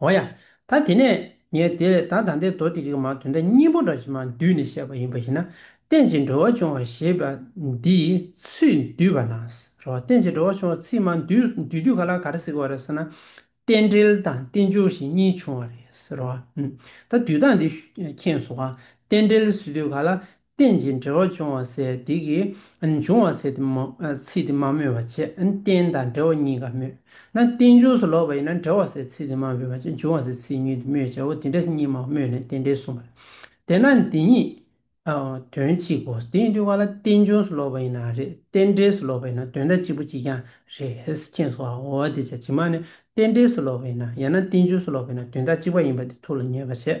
འོ་ཡ། ད་དེ་ནས་ངས་དེ་ལས་ད་དང་དེ་མདོ་སྡེ་དགེ་མང་དོན་དག་གཉིས་པོ་འདྲ་ཞིག་མ་འདུས་ནས་བཤད་པ་ཡིན་པ་ཞིག་ན། རྟེན་ཅིང་འགྲོ་བ་འབྱུང་བ་ཞེས་པ་འདིས་ཚུལ་འདུས་པ་ན་རོ། རྟེན་ཅིང་འགྲོ་བ་འབྱུང་བ་ཚིག་མ་འདུས་འདུས་དུས་ག་ལ་ག་རེ་ཟེར་གི་བ་རེད་ཟེར་ན། རྟེན་འབྲེལ་དང་རྟེན་འབྱུང་ཞེས་གཉིས་བྱུང་བ་རེད་ཟེར་རོ། ད་འདུས་སྟངས་འདི་མཁྱེན་སོང་ང། རྟེན་འབྲེལ་ཟེར་དུས་ག་ལ་རྟེན་ཅིང་འབྲེལ་བར་འབྱུང་བ་ཟད་བདེ་ཀྱི། འབྱུང་བ་ཟད་དེ་མ་ཚིག་དེ་མ་སྨོས་པར་བྱས་ན་རྟེན་དང་འབྲེལ་བ་གཉིས་ཀ་སྨོས། ན་རྟེན་འབྱུང་སུ་ལོག་པ་ཡིན་ན་འབྲེལ་བ་ཟད་ཚིག་དེ་མ་སྨོས་པར་བྱས་འབྱུང་བ་ཟད་ཚིག་ཉིད་དུ་སྨོས་བྱའོ་དེ་འདྲ་གཉིས་མ་སྨོས་ནས་རྟེན་འབྲེལ་གསུངས་པ་ལས། དེས་ན་འདི་གཉིས་དོན་གཅིག་གོ། དེ་ཡིན་དུས་བ་ལ་རྟེན་འབྱུང་སུ་ལོག་པ་ཡིན་ན་རེད་རྟེན་འབྲེལ་སུ་ལོག་པ་ཡིན་ན་དོན་དག་གཅིག་པོ་གཅིག་ཀྱང་རེད་མཁྱེན་སོ་འོ་དེ་ཅག་ཇི་མ་ནས་རྟེན་འབྲེལ་སུ་ལོག་པ་ཡིན་ན་ཡང་ན་རྟེན་འབྱུང་སུ་ལོག་པ་ཡིན་ན་དོན་དག་གཅིག་པ་ཡིན་པ་དེ་ཐུགས་ལ་ངེས་པར་བྱས།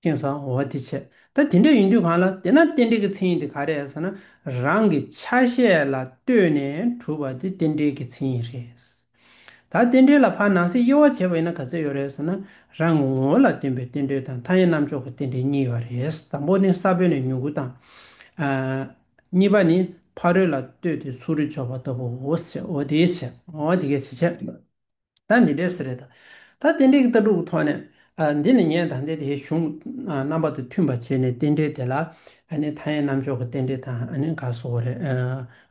སྐྱོན་བཟང་བོ་དེ་བྱས། ད་དེ་འདྲ་ཡིན་དུས་གང་ལ་བལྟས་ན་རྟེན་འབྲེལ་གྱི་མཚན་ཡིན་དེ་ག་རེད་ཟེར་ན། རང་གི་ཆ་ཤས་ལ་ལྟོས་ནས་གྲུབ་པ་དེ་རྟེན་འབྲེལ་གྱི་མཚན་ཡིན་རེད། ད་རྟེན་འབྲེལ་ལ་ཕར་ནང་གསེས་དབྱེ་བ་འབྱེད་པ་ཡིན་ན་ག་ཚོད་ཡོད་རེད་ཟེར་ན། རང་གི་ངོ་བོ་ལ་བརྟེན་པའི་རྟེན་འབྲེལ་དང་མཐའ་ཡས་རྣམ་འཇོག་གི་རྟེན་འབྲེལ་གཉིས་ཡོད་རེད། དང་པོ་ནི་ས་བོན་ལས་མྱུ་གུ་དང། གཉིས་པ་ནི་ཕ་རོལ་ལ་ལྟོས་ཏེ་ཚུར་རེ་འཇོག་པ་ལྟ་བུ་འོ་དེ་བྱས། ད་འདི་འདྲའི་ཟེར་རེད་ད། ད་རྟེན་འབྲེལ་གྱི་ལྟ་གྲུབ་ཀྱི་ཐོག་ནས། འདི་ནི་ངས་ད་ལྟའི་དེའི་གཞུང་རྣམ་པ་དང་མཐུན་པར་བྱས་ནས་རྟེན་འབྲེལ་དེ་ལ། མཐའ་ཡས་རྣམ་འཇོག་གི་རྟེན་འབྲེལ་དང་འགའ་བཟོ་བ་རེད།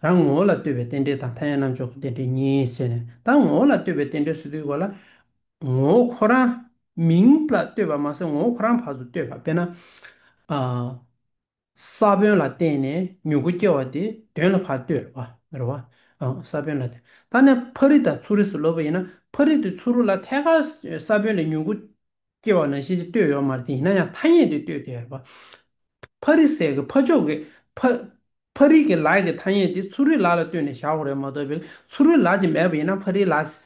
རང་ངོ་བོ་ལ་ལྟོས་པའི་རྟེན་འབྲེལ་དང་མཐའ་ཡས་རྣམ་འཇོག་གི་རྟེན་འབྲེལ་གཉིས་ཟེར་ནས་ད་ངོ་བོ་ལ་ལྟོས་པའི་རྟེན་འབྲེལ་བཟོ་དུས་གོ་ལ། ངོ་བོ་ཁོ་རང། མིང་ལ་ལྟོས་པ་མ་ཟད་ངོ་བོ་ཁོ་རང་བར་དུ་ལྟོས་པ་དཔེར་ན། ས་བོན་ལ་བརྟེན་ནས་མྱུ་གུ་སྐྱེ་བ་སྟེ་དོན་ལ་བར་དོའི་རོ། རོ་བ། ས་བོན་ལ་བརྟེན། ད་ནི་ཕ་རི་དང་ཚུ་རི་སོགས་ལོ་པ་ཡིན་ན་ཕ་རི་དང་ཚུ་རུ་ལ་ཐད་ཀར་ས་བོན་ལས་མྱུ་གུ་སྐྱེ་བ་ནང་བཞིན་གྱི་བརྟོས་ཡོད་མ་རེད་དེ་ཡིན་ན་ཡང་ཐ་སྙད་དེ་བརྟོས་དེ་རོ། ཕ་རི་སྲས་ཀྱི་ཕ་ཕྱོགས་ཀྱི་ཕ། ཕ་རི་ཀྱི་ལ་ཡི་ཐ་སྙད་དེ་ཚུ་རི་ལ་ལ་བརྟོས་ནས་བཞག་པ་རེད་མ་གཏོགས་པའི་ཚུ་རི་ལ་ཅེས་མེད་པ་ཡིན་ན་ཕ་རི་ལ།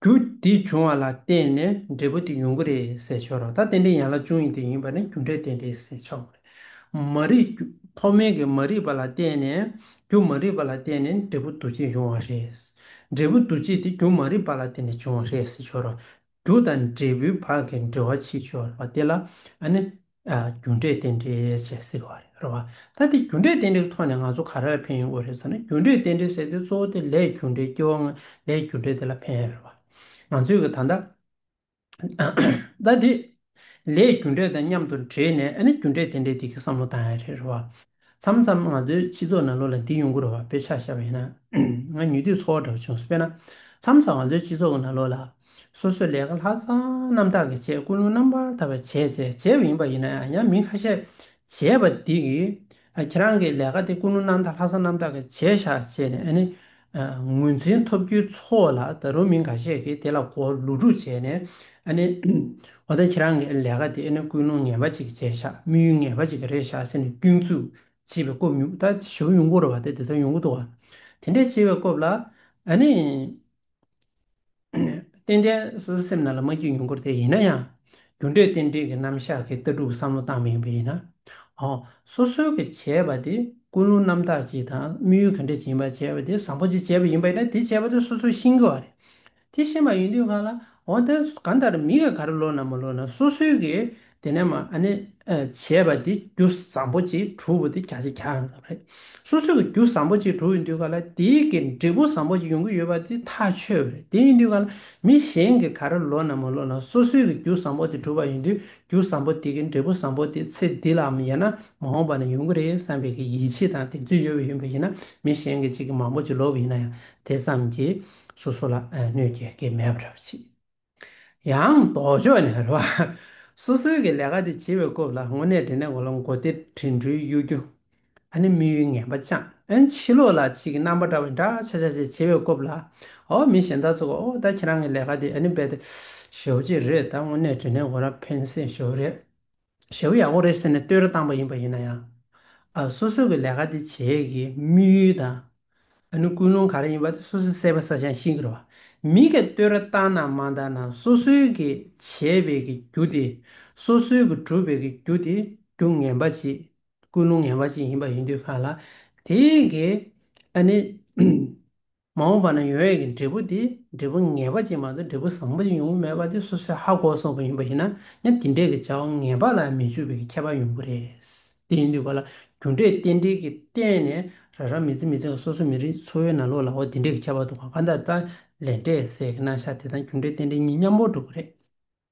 རྒྱུ་འདི་འབྱུང་བ་ལ་བརྟེན་ནས་འབྲས་བུ་དེ་ཡོང་གི་རེད་ཟེར་ཆོག་རང་ལྟ་རྟེན་འབྲེལ་ཡན་ལག་བཅུ་གཉིས་དེ་ཡིན་པ་ནི་རྒྱུ་འབྲས་རྟེན་འབྲེལ་ཟེར་ཆོག་གི་རེད། མ་རིག་རྒྱུ་ཐོག་མེད་ཀྱི་མ་རིག་པ་ལ་བརྟེན་ནས་རྒྱུ་མ་རིག་པ་ལ་བརྟེན་ནས་འབྲས་བུ་འདུ་བྱེད་འབྱུང་བ་རེད། འབྲས་བུ་འདུ་བྱེད་དེ་རྒྱུ་མ་རིག་པ་ལ་བརྟེན་ནས་བྱུང་བ་རེད་ཟེར་ཆོག་རོགས། རྒྱུ་དང་འབྲས་བུའི་བར་གྱི་འབྲེལ་བ་ཕྱིས་འབྱུང་བ་དེ་ལ་ཨ་ནི། རྒྱུ་འབྲས་རྟེན་འབྲེལ་ཞེས་ཟེར་བ་རེད་བ། ད་འདི་རྒྱུ་འབྲས་རྟེན་འབྲེལ་གྱི་ཐོག་ནས་ང་ཚོ་ག་རེ་ལ་ཕན་ཡོང་དགོས་རེད་ཟེར་ན་རྒྱུ་འབྲས་རྟེན་འབྲེལ་ཟེར་དུས་གཙོ་བོ་དེ་ལས་རྒྱུ་འབྲས་སྐྱེ་བ་ལྔ་ལས་རྒྱུ་འབྲས་དེ་ལ་ཕན་ཡོད་རེད་བ། ང་ཚོས་གི་ད་ལྟ། ད་འདི་ལས་རྒྱུ་འབྲས་དང་མཉམ་དུ་འདྲེས་ནས་ཨ་ནི་རྒྱུ་འབྲས་རྟེན་འབྲེལ་འདི་གི་བསམ་བློ་བཏང་ཡ་རེད་བ། མཚམས་མཚམས་ང་ཚོའི་སྤྱི་ཚོགས་ནང་ལོ་ལ་འདི་ཡོང་གི་རོགས་བ་དཔེ་ཆ་ཤར་བ་ཡིན་ན་ང་ཉུལ་དུས་ཚོར་བ་འདྲ་བོ་བྱུང་སོང་དཔེར་ན་མཚམས་མཚམས་ང་ཚོའི་སྤྱི་ཚོགས་ནང་ལོ་ལ་སོ་སོས་ལས་ཀ་ལྷག་བསམ་རྣམ་དག་གིས་བྱས་ཀུན་སློང་རྣམ་པར་དག་པས་བྱས་བྱས་བྱས་པ་ཡིན་པ་ཡིན་ན་ཡང་མི་ཁ་ཤས་བྱས་པ་འདི་གིས་ཁྱེད་རང་གི་ལས་ཀ་དེ་ཀུན་སློང་རྣམ་དག་ལྷག་བསམ་རྣམ་དག་གིས་བྱས་ཤག་བྱས་ནས་ཨ་ནི་ངོས་འཛིན་ཐོབ་རྒྱུའི་ཚོགས་ལ་ད་རུང་མི་འགའ་ཤས་ཀྱིས་དེ་ལ་གོ་ལུགས་དྲུག་བྱས་ནས། ཨ་ནི། འོ་ད་ཁྱེད་རང་གི་ལས་ཀ་དེ་ཨེ་ནི་ཀུན་སློང་ངན་པ་ཅིག་བྱས་ཤག་དམིགས་ཡུལ་ངན་པ་ཅིག་རེད་ཤག་ཟེར་ནས་སྐྱོན་འཛུགས་བྱེད་པའི་སྐོབ་ཉུག་ད་ཞོ་གཡུང་དགུ་ར་བ་དེ་དེ་ཚོ་གཡུང་དགུ་དུ་བ། དེ་འདྲས་བྱེད་པའི་སྐོབ་ལ། ཨ་ནི། ཏན་ཏན་སོ་སོའི་སེམས་རྣལ་ལ་མ་འཇུག་མྱོང་གོ་དེ་ཡིན་ན་ཡང། རྒྱུ་འབྲས་རྟེན་འབྲེལ་གྱི་རྣམ་གཞག་གི་ལྟ་གྲུབ་བསམ་བློ་བཏང་མི་ཡོང་པས་ཡིན་ན། འོ། སོ་སོའི་གི་བྱས་པ་དེ་ཀུན་སློང་རྣམ་དག་ཅིག་དང་དམིགས་ཡུལ་ག་འདྲས་ཅིག་ཡིན་པ་བྱས་པ་དེ་བཟང་པོ་ཅིག་བྱས་པ་ཡིན་པ་ཡིན་ན་དེ་བྱས་པ་དེ་སོ་སོས་ཤེས་དགོས་བ་རེད། དེ་ཤེས་མ་ཡོང་དུས་གང་ལ། འོ། དེ་གང་ལྟར་མི་ག་ག་རུ་ལོག་ན་མ་ལོག་ན་སོ་སོའི་གི། དེ་ནས་མ་ནི་བྱས་པ་དེ་རྒྱུ་བཟང་པོ་གཅིག་གྲུབ་བོ་དེ་གྱ་གཅིག་གྱ་ཡང་རེད། སོ་སོ་གི་རྒྱུ་བཟང་པོ་གཅིག་གྲུབ་ཡིན་དུས་ག་ལ་དེའི་གི་འབྲས་བུ་བཟང་པོ་གཅིག་ཡོང་གི་ཡོད་པ་དེ་ཐག་ཆོད་པོ་རེད་དེ་ཡིན་དུས་ག་ལ་མི་གཞན་གི་ག་རེ་ལོ་ན་མ་ལོ་ན་སོ་སོའི་གི་རྒྱུ་བཟང་པོ་དེ་གྲུབ་པ་ཡིན་དུས་རྒྱུ་བཟང་པོ་དེ་གི་འབྲས་བུ་བཟང་པོ་དེ་ཚེ་འདི་ལའམ་ཡང་ན་མ་འོངས་པ་ན་ཡོང་གི་རེད་བསམ་པའི་གི་ཡིད་ཆེས་དང་གདེང་ཚོད་ཡོད་པ་ཡིན་པ་ཡིན་ན་མི་གཞན་གི་གཅིག་གི་མང་པོ་གཅིག་ལོག་གི་ཡིན་ན་ཡང་དེ་ཙམ་གྱིས་སོ་སོ་ལ་གནོད་སྐྱེལ་གི་མེད་པ་རེད་བ་ཅིག། ཡང་ལྡོག་ཕྱོགས་ནས་རེ་བ། སོ་སོའི་གི་ལས་ཀ་དེ་བྱེད་པའི་སྐོབས་ལ་དངོས་གནས་དྲིན་ལན་གོ་ལ་མགོ་སྟེར་དྲིན་གྲོལ་གཡོ་སྒྱུ། ཨ་ནི་དམིགས་ཡུལ་ངན་པ་ཅང་ཨན་ཕྱི་ལོག་ལ་ཕྱིས་ཀྱི་རྣམ་པ་འདྲ་བའི་འདྲ་ཆགས་ཆགས་བྱེད་བྱེད་པའི་སྐོབས་ལ། ཨོ་མི་གཞན་དག་ཚོ་གི་ཨོ་ད་ཁྱེད་རང་གི་ལས་ཀ་དེ་ཨ་ནི་འབད་དེ་ཞོབ་ཅིག་རེད་ད་དངོས་གནས་དྲིན་ལན་གོ་ལ་ཕན་སེ་ཞོབ་རེད། ཞའོ་ཡའོ་རེད་ཟེར་ནས་བསྟོད་ར་བཏང་པ་ཡིན་པ་ཡིན་ན་ཡང། སོ་སོ་གི་ལས་ཀ་དེ་བྱས་ཀྱི་དམིགས་ཡུལ་དང། ཨ་ནུ་ཀུན་སློང་ག་རེ་ཡིན་པ་དེ་སོ་སོས་གསལ་པོ་ས་ཞང་ཤིང་གི་རེད་བ། མི་ག་བསྟོད་ར་བཏང་ན་མ་འདང་ན་སོ་སོའི་གི་བྱས་པའི་གི་རྒྱུ་དེ། སོ་སོའི་གི་གྲུབ་པའི་གི་རྒྱུ་དེ་རྒྱུ་ངན་པ་ཅིག་ཀུན་སློང་ངན་པ་ཅིག་ཡིན་པ་ཡིན་དུས་གང་ལ་དེའི་གི་ཨ་ནི། མ་འོངས་པ་ན་ཡོད་ཡོད་ཀྱི་འབྲས་བུ་དེ་འབྲས་བུ་ངེས་པ་ཅན་མ་གཏོགས་འབྲས་བུ་བཟང་པོ་ཞིག་ཡོང་གི་མེད་པ་དེ་སོ་སོའི་ཧ་གོ་བ་སོགས་པ་ཡིན་པ་ཞིག་ན་ཡང་དེ་འབྲས་ཀྱི་བྱ་བ་ངེས་པ་ལ་མི་འཇུག་པའི་ཁྱད་པར་ཡོང་གི་རེད། དེ་ཡིན་དུས་ག་ལ་རྒྱུ་འབྲས་རྟེན་འབྲེལ་གྱི་སྟེང་ནས་ར་ར་མི་རྩེ་མི་རྩེ་ག་སོ་སོའི་མི་རིགས་འཚོ་བའི་ན་ལོག་ལ་འོ་དེ་འབྲས་ཀྱི་ཁྱད་པར་དུ་ག་ག་འདྲ་འདྲ་ལས་འབྲས་ཟེར་གི་ན་ཤ་དེ་དང་རྒྱུ་འབྲས་རྟེན་འབྲེལ་གཉིས་མཉམ་པོར་སྒྲུབ་གི་རེད།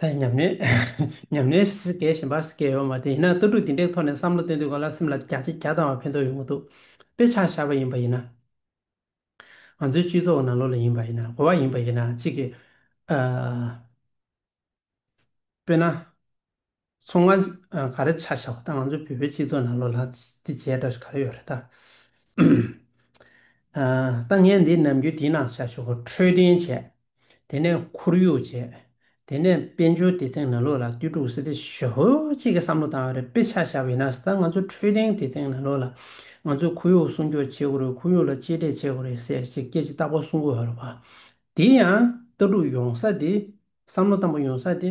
ད་ཉམས་ནས་ཉམས་ནས་ཟིག་སྐད་བཞིན་པར་ཟིག་སྐད་ཡོད་པ་མ་དེ་ཡིན་ན་ལྟ་གྲུབ་འདི་འདྲའི་ཐོག་ནས་བསམ་བློ་གཏོད་འདོད་ག་ལ་སེམས་ལ་རྒྱ་ཆེ་རྒྱ་བཏང་བ་ཕན་ཐོགས་ཡོང་གི་འདུག་དཔེ་ཆ་ཤར་བ་ཡིན་པ་ཡིན་ན། ང་ཚོའི་སྤྱི་ཚོགས་ནང་ལོག་ལ་ཡིན་པ་ཡིན་ན་གོ་བ་ཡིན་པ་ཡིན་ན་གཅིག་གིས་ཨ། དཔེར་ན། མཚོ་སྔོན་ག་རེ་ཆ་ཤར་བ་དང་ང་ཚོའི་བོད་པའི་སྤྱི་ཚོགས་ནང་ལོག་ལ་དེ་བྱས་འདྲ་ག་རེ་ཡོད་རེད་ད། ཨ། ད་ངས་འདི་ནམ་རྒྱུན་དེའི་ནང་བཞག་ཞོག་ཁྲོས་ལྡན་བྱས། དེ་ནས་ཁོར་ཡུག་བྱས། དེ་ནས་དཔལ་འབྱོར་སྡེ་ཚན་ནང་ལོགས་ལ་ཏུའུ་ཀྲུའུ་ཟི་ཏི་ཞོ་ཧོ་གཅིག་གི་བསམ་བློ་དང་རེ་དཔེ་ཆ་བཞག་པའི་ན་ས་ང་ཚོ་འཕྲོད་བསྟེན་སྡེ་ཚན་ནང་ལོགས་ལ་ང་ཚོས་ཁོར་ཡུག་སྲུང་སྐྱོབ་བྱེད་དགོས་རེད་ཁོར་ཡུག་ལ་གཅེས་སྤྲས་བྱེད་དགོས་རེད་ཟེར་བྱས་སྐད་ཅིག་རྟག་པར་སྲུང་དགོས་ཧ་རུ་བ། དེ་ཡང་ལྟ་གྲུབ་ཡོང་ས་དེ། བསམ་བློ་གཏམ་པོ་ཡོང་ས་དེ།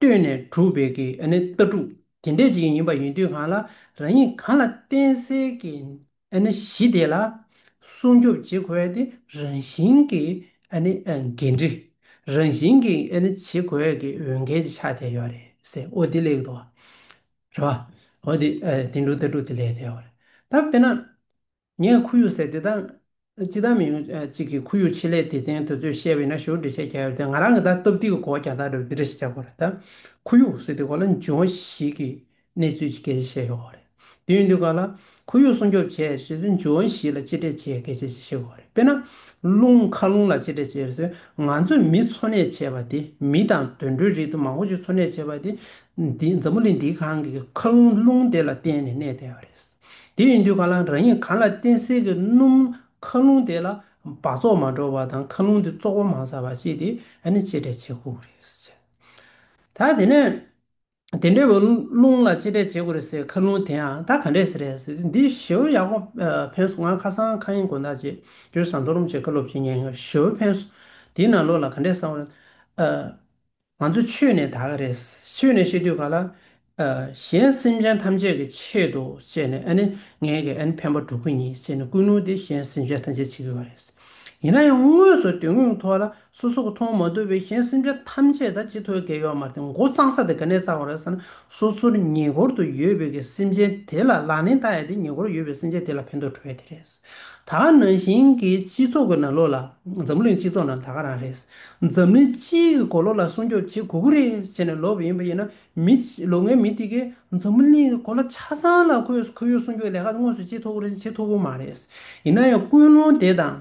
བཏོན་ནས་གྲུབ་པའི་ཀྱི་ནི་ལྟ་གྲུབ་དེ་འདྲས་ཅིག་ཡིན་པ་ཡིན་དུས་གང་ལ་རང་ཉིད་གང་ལ་བརྟེན་སའི་ཀྱི་ནི་གཞི་དེ་ལ་སྲུང་སྐྱོབ་བྱེད་དགོས་ཏེ་རང་བཞིན་གྱི་ནི་འགན་འཁྲི་རང་བཞིན་གྱི་ནི་བྱེད་དགོས་ཀྱི་འོས་འགན་གྱི་ཆ་དེ་ཡོད་རེད་ཟེར་འོ་དེ་ལེགས་འདུག་རེད་པ། འོ་དེ་དེ་འདྲུག་ལྟ་གྲུབ་དེ་ལེགས་རེད་འོ་རེད་ད་དཔེར་ན། ངས་ཁོར་ཡུག་ཟེར་དེ་དག་ཅི་ལྟར་མི་ཡོང་ཅིག་གིས་ཁོར་ཡུག་ཆེད་ལས་སྡེ་ཚན་དེ་ཚོས་བཤད་པའི་ན་གཞོན་འབྲི་བྱའི་རྒྱ་ཡོད་དེ་ང་རང་གི་ད་སྟོབས་ཏིག་གི་གོ་བ་རྒྱ་ཐག་རེད་བ་འདི་འདྲ་ཞིག་རྒྱག་དགོས་རེད་ད། ཁོར་ཡུག་ཟེར་དེ་གོ་ལ་འཇུ་བ་ཞིག་གི་གནས་ཚུལ་གྱི་གལ་ཆེ་ཤེས་དགོས་བ་རེད། དེ་ཡོང་དུས་ག་ལ། ཁོར་ཡུག་སྲུང་སྐྱོབ་བྱས་ཟེར་དུས་འཇུ་བ་ཞིག་ལ་གཅེས་སྤྲས་བྱེད་གལ་ཆེ་ཞེས་ཤེས་དགོས་བ་རེད་དཔེར་ན། རླུང་མཁའ་རླུང་ལ་གཅེས་སྤྲས་བྱས་ཟེར་དུས་ང་ཚོས་མི་འཚོ་གནས་བྱས་བ་དེ་མི་དང་དུད་འགྲོའི་རིགས་དུ་མ་འཁོར་ཅིག་འཚོ་གནས་བྱས་བ་དེ་འཛམ་བུ་གླིང་འདིའི་གང་གི་མཁའ་རླུང་རླུང་དེ་ལ་བརྟེན་ནས་གནས་བསྡད་བ་རེད། དེ་ཡིན་དུས་ཁ་རླངས་རང་ཉིད་གང་ལ་བརྟེན་སེལ་གྱི་སྣུམ་ཁ་རླུང་དེ་ལ་སྦགས་བཙོག་མ་འགྲོ་བ་དང་ཁ་རླུང་དེ་བཙོག་པ་མང་ས་བ་བྱས་ཏེ་ཨ་ནི་ཆེ་དྲས་བྱེད་ཁུག་རེད་ཟེར། ད་དེ་ནས་དེ་འདྲ་བའི་རླུང་ལ་ཆེ་དྲས་བྱེད་ཁུག་རེད་ཟེར་ཁ་རླུང་དེ་ཡང་ད་ག་འདྲས་རེད་ཟེར་ཏེ་འདི་ཞོའུ་ཡག་པོ་ཕན་སོང་ང་ཁ་སང་ཁ་ཡིན་དགོན་བདག་ཅེས་ཀྱོའི་ཟངས་མཐོ་རུམ་ཆེད་བཀའ་སློབ་བྱེད་ཉན་ཡོང་ཞོའུ་ཕན་སོང་དེའི་ནང་ལོགས་ལ་ག་འདྲས་སང་བ་རེད། ང་ཚོ་ཆོས་ནས་དག་གི་རེད། ཆོས་ནས་ཤེས་དུས་ག་ལ། གཞན་སེམས་ཅན་ཐམས་ཅད་ཀྱི་ཆེད་དུ་བཤད་ནས་ཨ་ནི་ངའི་གི་ཨ་ནི་ཕན་པ་འགྲོ་གི་ཉིད་ཟེར་ནས་ཀུན་སློང་དེ་གཞན་སེམས་ཅན་ཐམས་ཅད་བྱེད་གི་བ་རེད། ཡིན་ན་ཡང་དངོས་སུ་དོན་དངོས་ཐོག་ལ་སོ་སོ་གི་མཐོང་མ་ཐུབ་པའི་གཞན་སེམས་ཅན་ཐམས་ཅད་དང་ཅི་ཐོག་འགལ་ཡོད་མ་རེད་མགོ་གཙང་ས་དེ་ག་ནས་གཙང་བ་རེད་ཟེར་ན་སོ་སོར་ཉེ་འཁོར་དུ་ཡོད་པའི་གི་སེམས་ཅན་དེ་ལ་ལག་ལེན་བསྟར་ཡ་དེ་ཉེ་འཁོར་ཡོད་པའི་སེམས་ཅན་དེ་ལ་ཕན་ཐོག་འགྲོ་ཡ་དེ་རེད། ད་ག་ནང་བཞིན་གྱི་སྤྱི་ཚོགས་ཀྱི་ནང་ལོགས་ལ་འཛམ་བུ་གླིང་སྤྱི་ཚོགས་ནང་ད་ག་རང་རེད། འཛམ་གླིང་སྤྱིའི་གི་གོ་ལོག་ལ་སྲུང་སྐྱོབ་བྱེད་གུ་གུ་རེ་བྱས་ནས་ལོག་པ་ཡིན་པ་ཡིན་ན་མི་ལོ་ངའི་མི་དེ་གས་འཛམ་བུ་གླིང་གི་གོ་ལ་ཆ་ཚང་ལ་ཁོས་ཁོར་ཡུག་སྲུང་སྐྱོབ་ལས་ཀ་དངོས་སུ་བྱེད་ཐུབ་གུ་རེ་བྱེད་ཐུབ་གུ་མ་རེད། ཡིན་ན་ཡང་ཀུན་སློང་དེ་དང་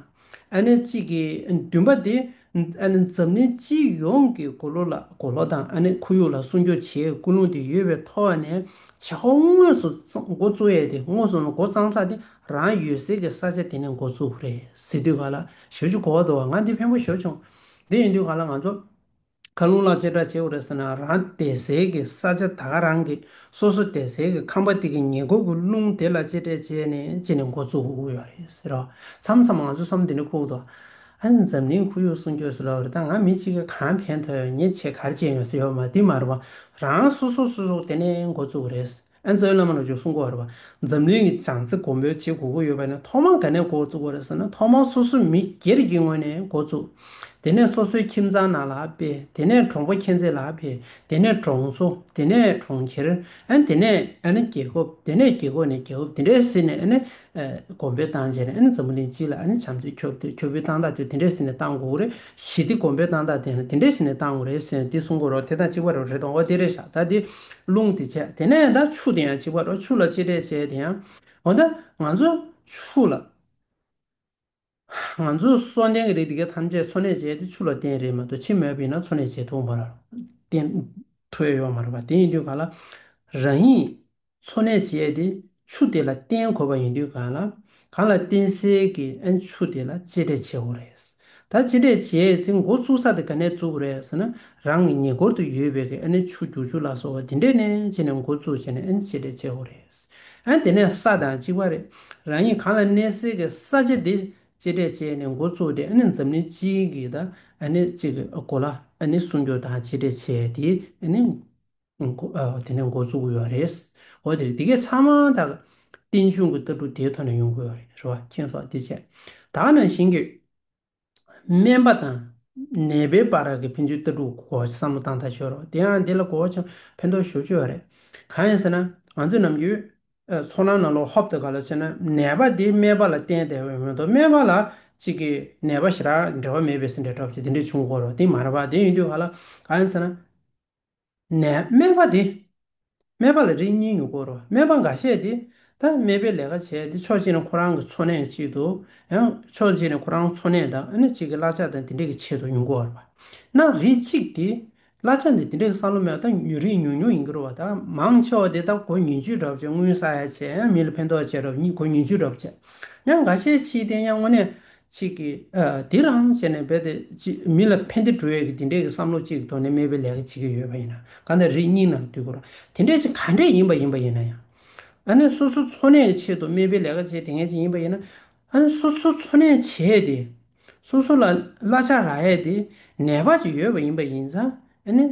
ཨ་ནེ་གཅིག་གི་འདུན་པ་དེ་ཨ་ནེ་འཛམ་གླིང་སྤྱི་ཡོངས་ཀྱི་གོ་ལོ་ལ་གོ་ལོག་དང་ཨ་ནེ་ཁོར་ཡུག་ལ་སྲུང་སྐྱོབ་བྱེད་ཀུན་སློང་དེ་ཡོད་པའི་ཐོག་ནས་བྱ་བ་དངོས་སུ་འགོ་བཙུགས་ཡས་དེ་དངོས་སུ་འགོ་བརྩམས་ལྷག་དེ་རང་ཡོད་ཟེར་གི་ས་ཆ་དེ་ནི་འགོ་ཚུགས་རེད་ཟེར་དུས་ག་ལ་ཞོལ་ཆུ་གོ་བ་དོ་བ་ང་འདི་ཕན་པོ་ཞོར་བྱུང། འདི་ཡིན་དུས་ག་ལ་ང་ཚོ་ཁ་རླུང་ལག་ཆད་གྲགས་བྱེད་དགོས་རེད་ཟེར་ན་རང་དད་ཟེར་གི་ས་ཆ་ད་ག་རང་གི་སོ་སོ་དད་ཟེར་གི་ཁམས་པ་དེ་གི་ཉེ་འཁོར་གི་རླུང་དེ་ལ་གཅེས་སྤྲས་བྱས་ནས་ཅི་ནས་འགོ་ཚུགས་དགོས་ཡོད་རེད་ཟེར་རོ། མཚམས་མཚམས་ང་ཚོ་བསམ་འདི་ནི་ཁུག་དོ། ཨ་ནི་འཛམ་གླིང་ཁོར་ཡུག་སྲུང་སྐྱོབ་སུ་ལ་འོས་རེད་ད་ང་མི་གཅིག་གི་གང་ཕན་ཐོག་ཡོད་ཉེས་ཆད་གར་བཅད་ཡོད་ཟེར་ཡོད་མ་འདི་མ་རེད་བ་རང་སོ་སོ་སོ་སོ་དེ་ནས་འགོ་ཚུགས་རེད་ཟེར། ཨན་ཙའུ་བླ་མ་རྣམས་ཀྱིས་གསུང་གོ་རེད་བ། འཛམ་གླིང་གི་བྱང་རྩེ་གོམ་པའི་ཇེ་གོ་གོ་ཡོད་པ་ནས་ཐོག་མར་ག་ནས་འགོ་བཙུགས་གོ་རེད་ཟེར་ན་ཐོག་མར་སོ་སོའི་མི་སྒེར་གྱི་ངོས་ནས་འགོ་བཙུགས། དེ་ནས་སོ་སོའི་ཁྱིམ་ཚང་ནང་ལ་སྤེལ། དེ་ནས་གྲོང་པ་ཁྱེད་ཚེ་ལ་འཕེལ། དེ་ནས་གྲོང་ཚོ། དེ་ནས་གྲོང་ཁྱེར། ཨན་དེ་ནས་ཨན་རྒྱལ་ཁབ། དེ་ནས་རྒྱལ་ཁབ་ནས་རྒྱལ་ཁབ་དེ་འདྲའི་ཟེར་ནས་ཨན། དགོན་པའི་ཏང་བཅས་ནས་ཨ་ནི་འཛམ་བུ་གླིང་སྤྱི་ལ་ཨ་ནི་བྱམས་བརྩེ་ཁྱོ་བོའི་ཁྱོ་བོའི་ཏང་དག་ཚོས་དེ་འདྲའི་ཟིན་ནས་བཏང་དགོས་རེད་གཞི་སྟེ་དགོན་པའི་ཏང་དག་དེ་ཡང་དེ་འདྲའི་ཟིན་ནས་བཏང་དགོས་རེད་ཟེར་ནས་དེ་གསུང་དགོས་རོགས་དེ་དང་གཅིག་པ་རོ་རེ་དང་འོ་དེ་རེ་བཞག་ད་དེ་རླུང་དེ་བྱས་དེ་ནས་ད་ཆུ་དེ་ཡང་གཅིག་པ་རོ་ཆུ་ལ་གཅེས་སྤྲས་བྱས་དེ་ཡང་འོ་ད་ང་ཚོ་ཆུ་ལ། ང་ཚོས་གསོལ་ལྡན་གྱི་རིགས་འདི་ག་ཐམས་ཅད་འཚོ་གནས་བྱས་ཏེ་ཆུ་ལ་བརྟེན་རེད་མ་གཏོགས་ཕྱི་མོས་པས་ན་འཚོ་གནས་བྱེད་ཐུབ་བརྟེན་ཐོས་ཡོད་མ་རེད་པ་དེ་ཡིན་དུས་ག་ལ་རང་ཉིད་འཚོ་གནས་བྱས་ཏེ་ཆུ་དེ་ལ་བརྟེན་དགོས་པ་ཡིན་དུས་ག་ལ་གང་ལ་བརྟེན་སའི་གི་ཨན་ཆུ་དེ་ལ་གཅེས་སྤྲས་བྱེད་འོ་རེད་ད་གཅེས་སྤྲས་བྱས་ཚེ་མགོ་བཙུགས་ས་དེ་ག་ནས་བཙུགས་རེད་ཟེར་ན་རང་གི་ཉེ་འཁོར་དུ་ཡོད་པའི་གི་ཨན་ཆུ་རྒྱུག་ཆུ་ལ་སོགས་བ་དེ་འདྲས་ནས་བྱས་ནས་མགོ་བཙུགས་བྱས་ནས་ཨན་གཅེས་སྤྲས་བྱེད་འོ་རེད། ཨང། དེ་ནས་ས་དང་གཅིག་པ་རེད། རང་ཉིད་གང་ལ་གནས་སའི་གི་ས་ཆ་དེ་གཅེས་སྤྲས་བྱས་ནས་འགོ་བཙུགས་ཏེ་ཨ་ནི་འཛམ་གླིང་སྤྱི་གི་ད་ཨ་ནི་སྤྱི་གི་གོ་ལ་ཨ་ནི་སྲུང་སྐྱོབ་དང་གཅེས་སྤྲས་བྱས་ཏེ་ཨ་ནི་འགོ་དེ་ནས་འགོ་བཙུགས་ཡོད་རེད། འོ་དེ་རེད་དེ་གས་ཚང་མ་དག་རྟེན་འབྱུང་གི་ལྟ་གྲུབ་དེའི་ཐོག་ནས་ཡོང་དགོས་ཡོད་རེད་རེད་བ་མཁྱེན་སོགས་དེ་བྱས། དག་ནང་བཞིན་གྱི། སྨན་པ་དང། ནད་པའི་པར་རག་གི་ཕན་ཚུན་ལྟ་གྲུབ་གོ་བསམ་བློ་བཏང་ཐག་ཆོད་རོགས། དེ་ཡང་དེ་ལ་གོ་བ་ཆང་ཕན་ཐོགས་ཞོར་སྤྱོད་རེད། གང་ཡིན་ཟེར་ན། ང་ཚོས་ནམ་རྒྱུན། ཚོར་སྣང་ནང་ལོག་ཧོབ་ཏུ་ག་ལ་སོན་ན་ནད་པ་དེ་སྨན་པ་ལ་བསྟེན་དེ་འོན་ཏོ་སྨན་པ་ལ་ཅིག་གིས་ནད་པ་ཞེ་དྲག་འབྲེལ་བ་མེད་པའི་ཟིན་བྲིས་སྒྲོག་ཅིག་དེ་འདྲས་བྱུང་གོ་རོགས་དེ་མ་རེད་པ་དེ་ཡིན་དུས་ག་ལ། གང་ཡིན་ཟེར་ན། ནས་སྨྲས་པ་དེ། སྨྲས་པ་ལ་རིགས་གཉིས་ཀྱིས་བསྐོར་རོ། སྨྲས་པ་འགའ་ཤས་དེ། ད་སྨྲས་པའི་ལས་ཀ་བྱས་ཏེ་ཕྱོགས་གཅིག་ནི་ཁོ་རང་གི་འཚོ་གནས་གཅིག་ཏུ། ཕྱོགས་གཅིག་ནི་ཁོ་རང་འཚོ་གནས་དང་ཨ་ནེ་གཅིག་གི་གླ་ཆ་དང་དེ་འདྲས་ཀྱི་ཆེད་དུ་ཡོང་གི་འོར་བ། ན་རིགས་གཅིག་དེ། གླ་ཆ་འདི་དེ་འདྲས་ཀྱི་ས་ལོ་མེད་པ་དང་ཉོ་རིགས་ཉུང་ཉུང་ཡིན་གྱི་རུ་བ་ད་མང་ཆེ་བ་དེ་ད་གོ་ཉིན་བཅུའི་གྲབས་བྱས་དངུལ་ས་ཡ་ཆད་ཡང་མི་ལ་ཕན་ཐོགས་བྱས་རབས་གཉིས་གོ་ཉིན་བཅུའི་གྲབས་བྱས། ཡང་འགའ་ཤས་ཕྱིའི་རྟེན་ཡང་དངོས་གནས་ཅིག་གིས། དེ་རང་བྱས་ནས་རྦད་དེ་མི་ལ་ཕན་བདེ་འགྲོ་ཡས་ཀྱི་དེ་འདྲས་ཀྱི་བསམ་བློ་ཅིག་གི་ཐོག་ནས་སྨད་པའི་ལས་ཀ་བྱེད་ཀྱི་ཡོད་པ་ཡིན། གང་ལྟར་རིགས་རྙིང་རྣམས་དུས་འཁོར་དེ་འདྲས་ཅིག་ག་འདྲས་ཡིན་པ་ཡིན་པ་ཡིན་ན་ཡང། ཨ་ནི་སོ་སོ་འཚོ་གནས་ཀྱི་ཆེད་དུ་སྨད་པའི་ལས་ཀ་བྱས་དེ་ངས་ཅིག་ཡིན་པ་ཡིན་ན། ཨ་ནི་སོ་སོ་འཚོ་གནས་བྱས་ཏེ། སོ་སོ་ལ་གླ་ཆ་རག་ཡས་དེ་ནད་པ་ཅིག་ཡོད་པ་ཡིན་པ་ཡིན་ཙང་ཨ་ནི།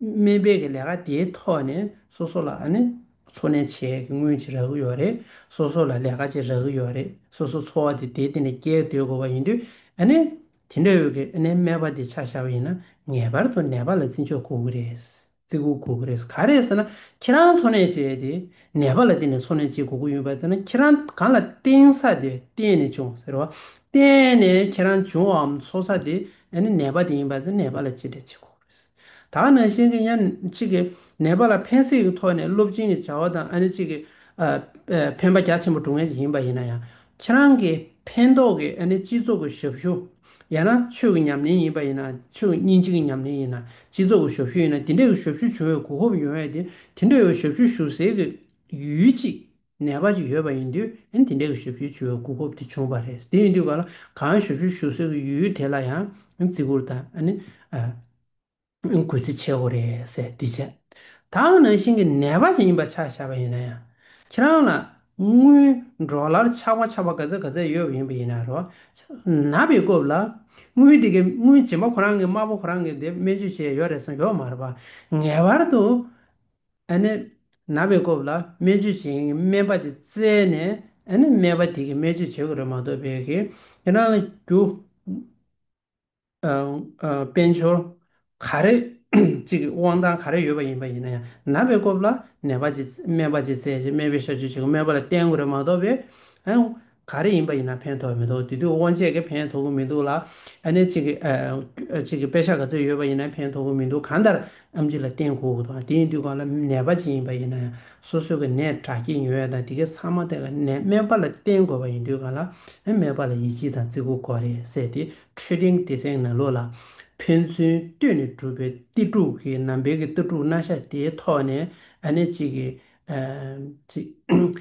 སྨད་པའི་ལས་ཀ་དེའི་ཐོག་ནས་སོ་སོ་ལ་ཨ་ནི། འཚོ་གནས་ཆེད་ཀྱི་དངུལ་ཅིག་རག་གི་ཡོད་རེད། སོ་སོ་ལ་ལས་ཀ་ཅིག་རག་གི་ཡོད་རེད། སོ་སོའི་འཚོ་བ་དེ་དེ་སྟེང་ནས་བསྐྱལ་སྡོད་དགོས་པ་ཡིན་དུས། ཨ་ནེ། དེ་འདྲའི་འོས་ཀྱི་ཨ་ནེའི་སྨྲས་པ་དེ་ཆ་བཞག་པ་ཡིན་ན་ངེས་པར་དུ་ནད་པ་ལ་བརྩི་འཇོག་དགོས་ཀྱི་རེད། བརྩི་བཀུར་དགོས་ཀྱི་རེད། ག་རེད་ཟེར་ན་ཁྱེད་རང་འཚོ་གནས་བྱས་ཏེ། ནད་པ་ལ་བརྟེན་ནས་འཚོ་གནས་བྱེད་དགོས་ཀྱི་ཡོད་པ་དེ་ན་ཁྱེད་རང་གང་ལ་བརྟེན་ས་དེ་བརྟེན་ནས་བྱུང་ཟེར་བ། བརྟེན་ནས་ཁྱེད་རང་བྱུང་བའམ་འཚོ་ས་དེ་ཨ་ནེ་ནད་པ་དེ་ཡིན་པ་ཟེར་ནད་པ་ལ་ཅི་འདྲ་བྱེད་དགོས། ད་ནངས་བཤད་མཁན་ཡང་གཅིག་གིས་ནད་པ་ལ་ཕན་སེམས་ཀྱི་ཐོག་ནས་སློབ་སྦྱིན་གྱི་བྱ་བ་དང་ཨ་ནེ་གཅིག་གིས་ཕན་པ་རྒྱ་ཆེན་པོ་བསྒྲུབ་མཁན་ཞིག་ཡིན་པ་ཡིན་ན་ཡང་ཁྱེད་རང་གིས་ཕན་འདོགས་ཀྱི་ཨ་ནེ་སྤྱི་ཚོགས་ཀྱི་ཞབས་ཞུ་ཡང་ན་ཆོས་ཀྱི་ཉམས་ལེན་ཡིན་པ་ཡིན་ན་ཆོས་ཉིན་གཅིག་གི་ཉམས་ལེན་ཡིན་ན་སྤྱི་ཚོགས་ཀྱི་ཞབས་ཞུ་ཡིན་ན་དེ་འདྲའི་ཞབས་ཞུ་བྱུང་བའི་གོ་སྐབས་ཡོང་བས་དེ་འདྲའི་ཞབས་ཞུ་ཞུ་སའི་ཡུལ་གཅིག་ནད་པ་ཅིག་ཡོད་པ་ཡིན་དུས་དེ་འདྲའི་ཞབས་ཞུའི་ཆུ་བོའི་གོ་སྐབས་དེ་བྱུང་བ་རེད། དེ་ཡིན་དུས་གང་ལ་གང་ཞབས་ཞུ་ཞུ་སྲོལ་གྱི་ཡུལ་དེ་ལ་ཡང་བརྩི་བཀུར་དང། གུས་བརྩི་ཆེ་བོ་རེད་ཟེར་དེ་བྱས། ད་འང་ནང་བཞིན་གྱི་ནད་པ་ཞིག་ཡིན་པ་ཆ་བཞག་པ་ཡིན་ན་ཡང། ཁྱེད་རང་ལ་དངུལ་འབྲོག་ལར་ཆག་པ་ཆག་པ་ག་ཚད་ག་ཚད་ཡོད་པ་ཡིན་པ་ཡིན་ན་རོགས། ན་བའི་སྐབས་ལ་དངུལ་དེ་གའི་དངུལ་རྗེས་མ་ཁོ་རང་གི་དམར་པོ་ཁོ་རང་གིས་དེ་སྨན་བཅོས་བྱས་ཡོད་རེད་གསུངས་ཡོད་མ་རེད་པ། ངེས་པར་དུ། ཨ་ནི། ན་བའི་སྐོབས་ལ་སྨན་བཅོས་བྱེད་མཁན་གྱི་སྨན་པ་ཅིག་བཙལ་ནས་ཨ་ནི་སྨན་པ་དེ་གིས་སྨན་བཅོས་བྱེད་དགོས་རེད་མ་གཏོགས་བེད་ཀི་ཡི་རང་ལ་རྒྱུ། དཔལ་འབྱོར། ག་རེ་ཅིག་གི་དབང་ཐང་ག་རེ་ཡོད་པ་ཡིན་པ་ཡིན་ན་ཡང་ན་བའི་སྐོབས་ལ་ནད་པ་ཅིག་སྨན་པ་ཅིག་བཙལ་རྗེས་སྨན་པའི་བཤའ་བཅོས་བྱེད་དགོས་སྨན་པ་ལ་བསྟེན་དགོས་རེད་མ་གཏོགས་བེད། ག་རེ་ཡིན་པ་ཡིན་ན་ཕན་ཐོགས་མི་ཐོགས་དེ་དུས་དབང་ཆས་ཀྱི་ཕན་ཐོགས་གི་མི་འདུག་ལ་ཨ་ནེ་གཅིག་གིས་དཔེ་ཆ་ག་ཚོད་ཡོད་པ་ཡིན་ན་ཕན་ཐོགས་གི་མི་འདུག་གང་ལྟར་ཨམ་གཅིག་ལ་བརྟེན་དགོས་ཀྱི་འདུག་དེ་ཡིན་དུས་གང་ལ་ནད་པ་ཅིག་ཡིན་པ་ཡིན་ན་ཡང་སོ་སོ་གི་ནད་དྲག་སྐྱེད་ཉུང་བས་དང་དེ་གའི་ཚང་མ་དེ་ག་ནས་སྨན་པ་ལ་བརྟེན་དགོས་པ་ཡིན་དུས་གང་ལ་སྨན་པ་ལ་ཡིད་ཆེས་དང་བརྩི་བཀུར་གོ་རེ་བསད་དེ་འཕྲོད་བསྟེན་སྡེ་ཚན་ནང་ལོགས་ལ་ཕན་ཚུན་བསྟུན་ནས་གྲུབ་པའི་གཏེར་དྲུག་གི་ནང་འབེལ་གྱི་གཏེར་དྲུག་སྣ་ཤ་དེའི་ཐོག་ནས་ཨ་ནེ་གཅིག་གིས་ཚིག།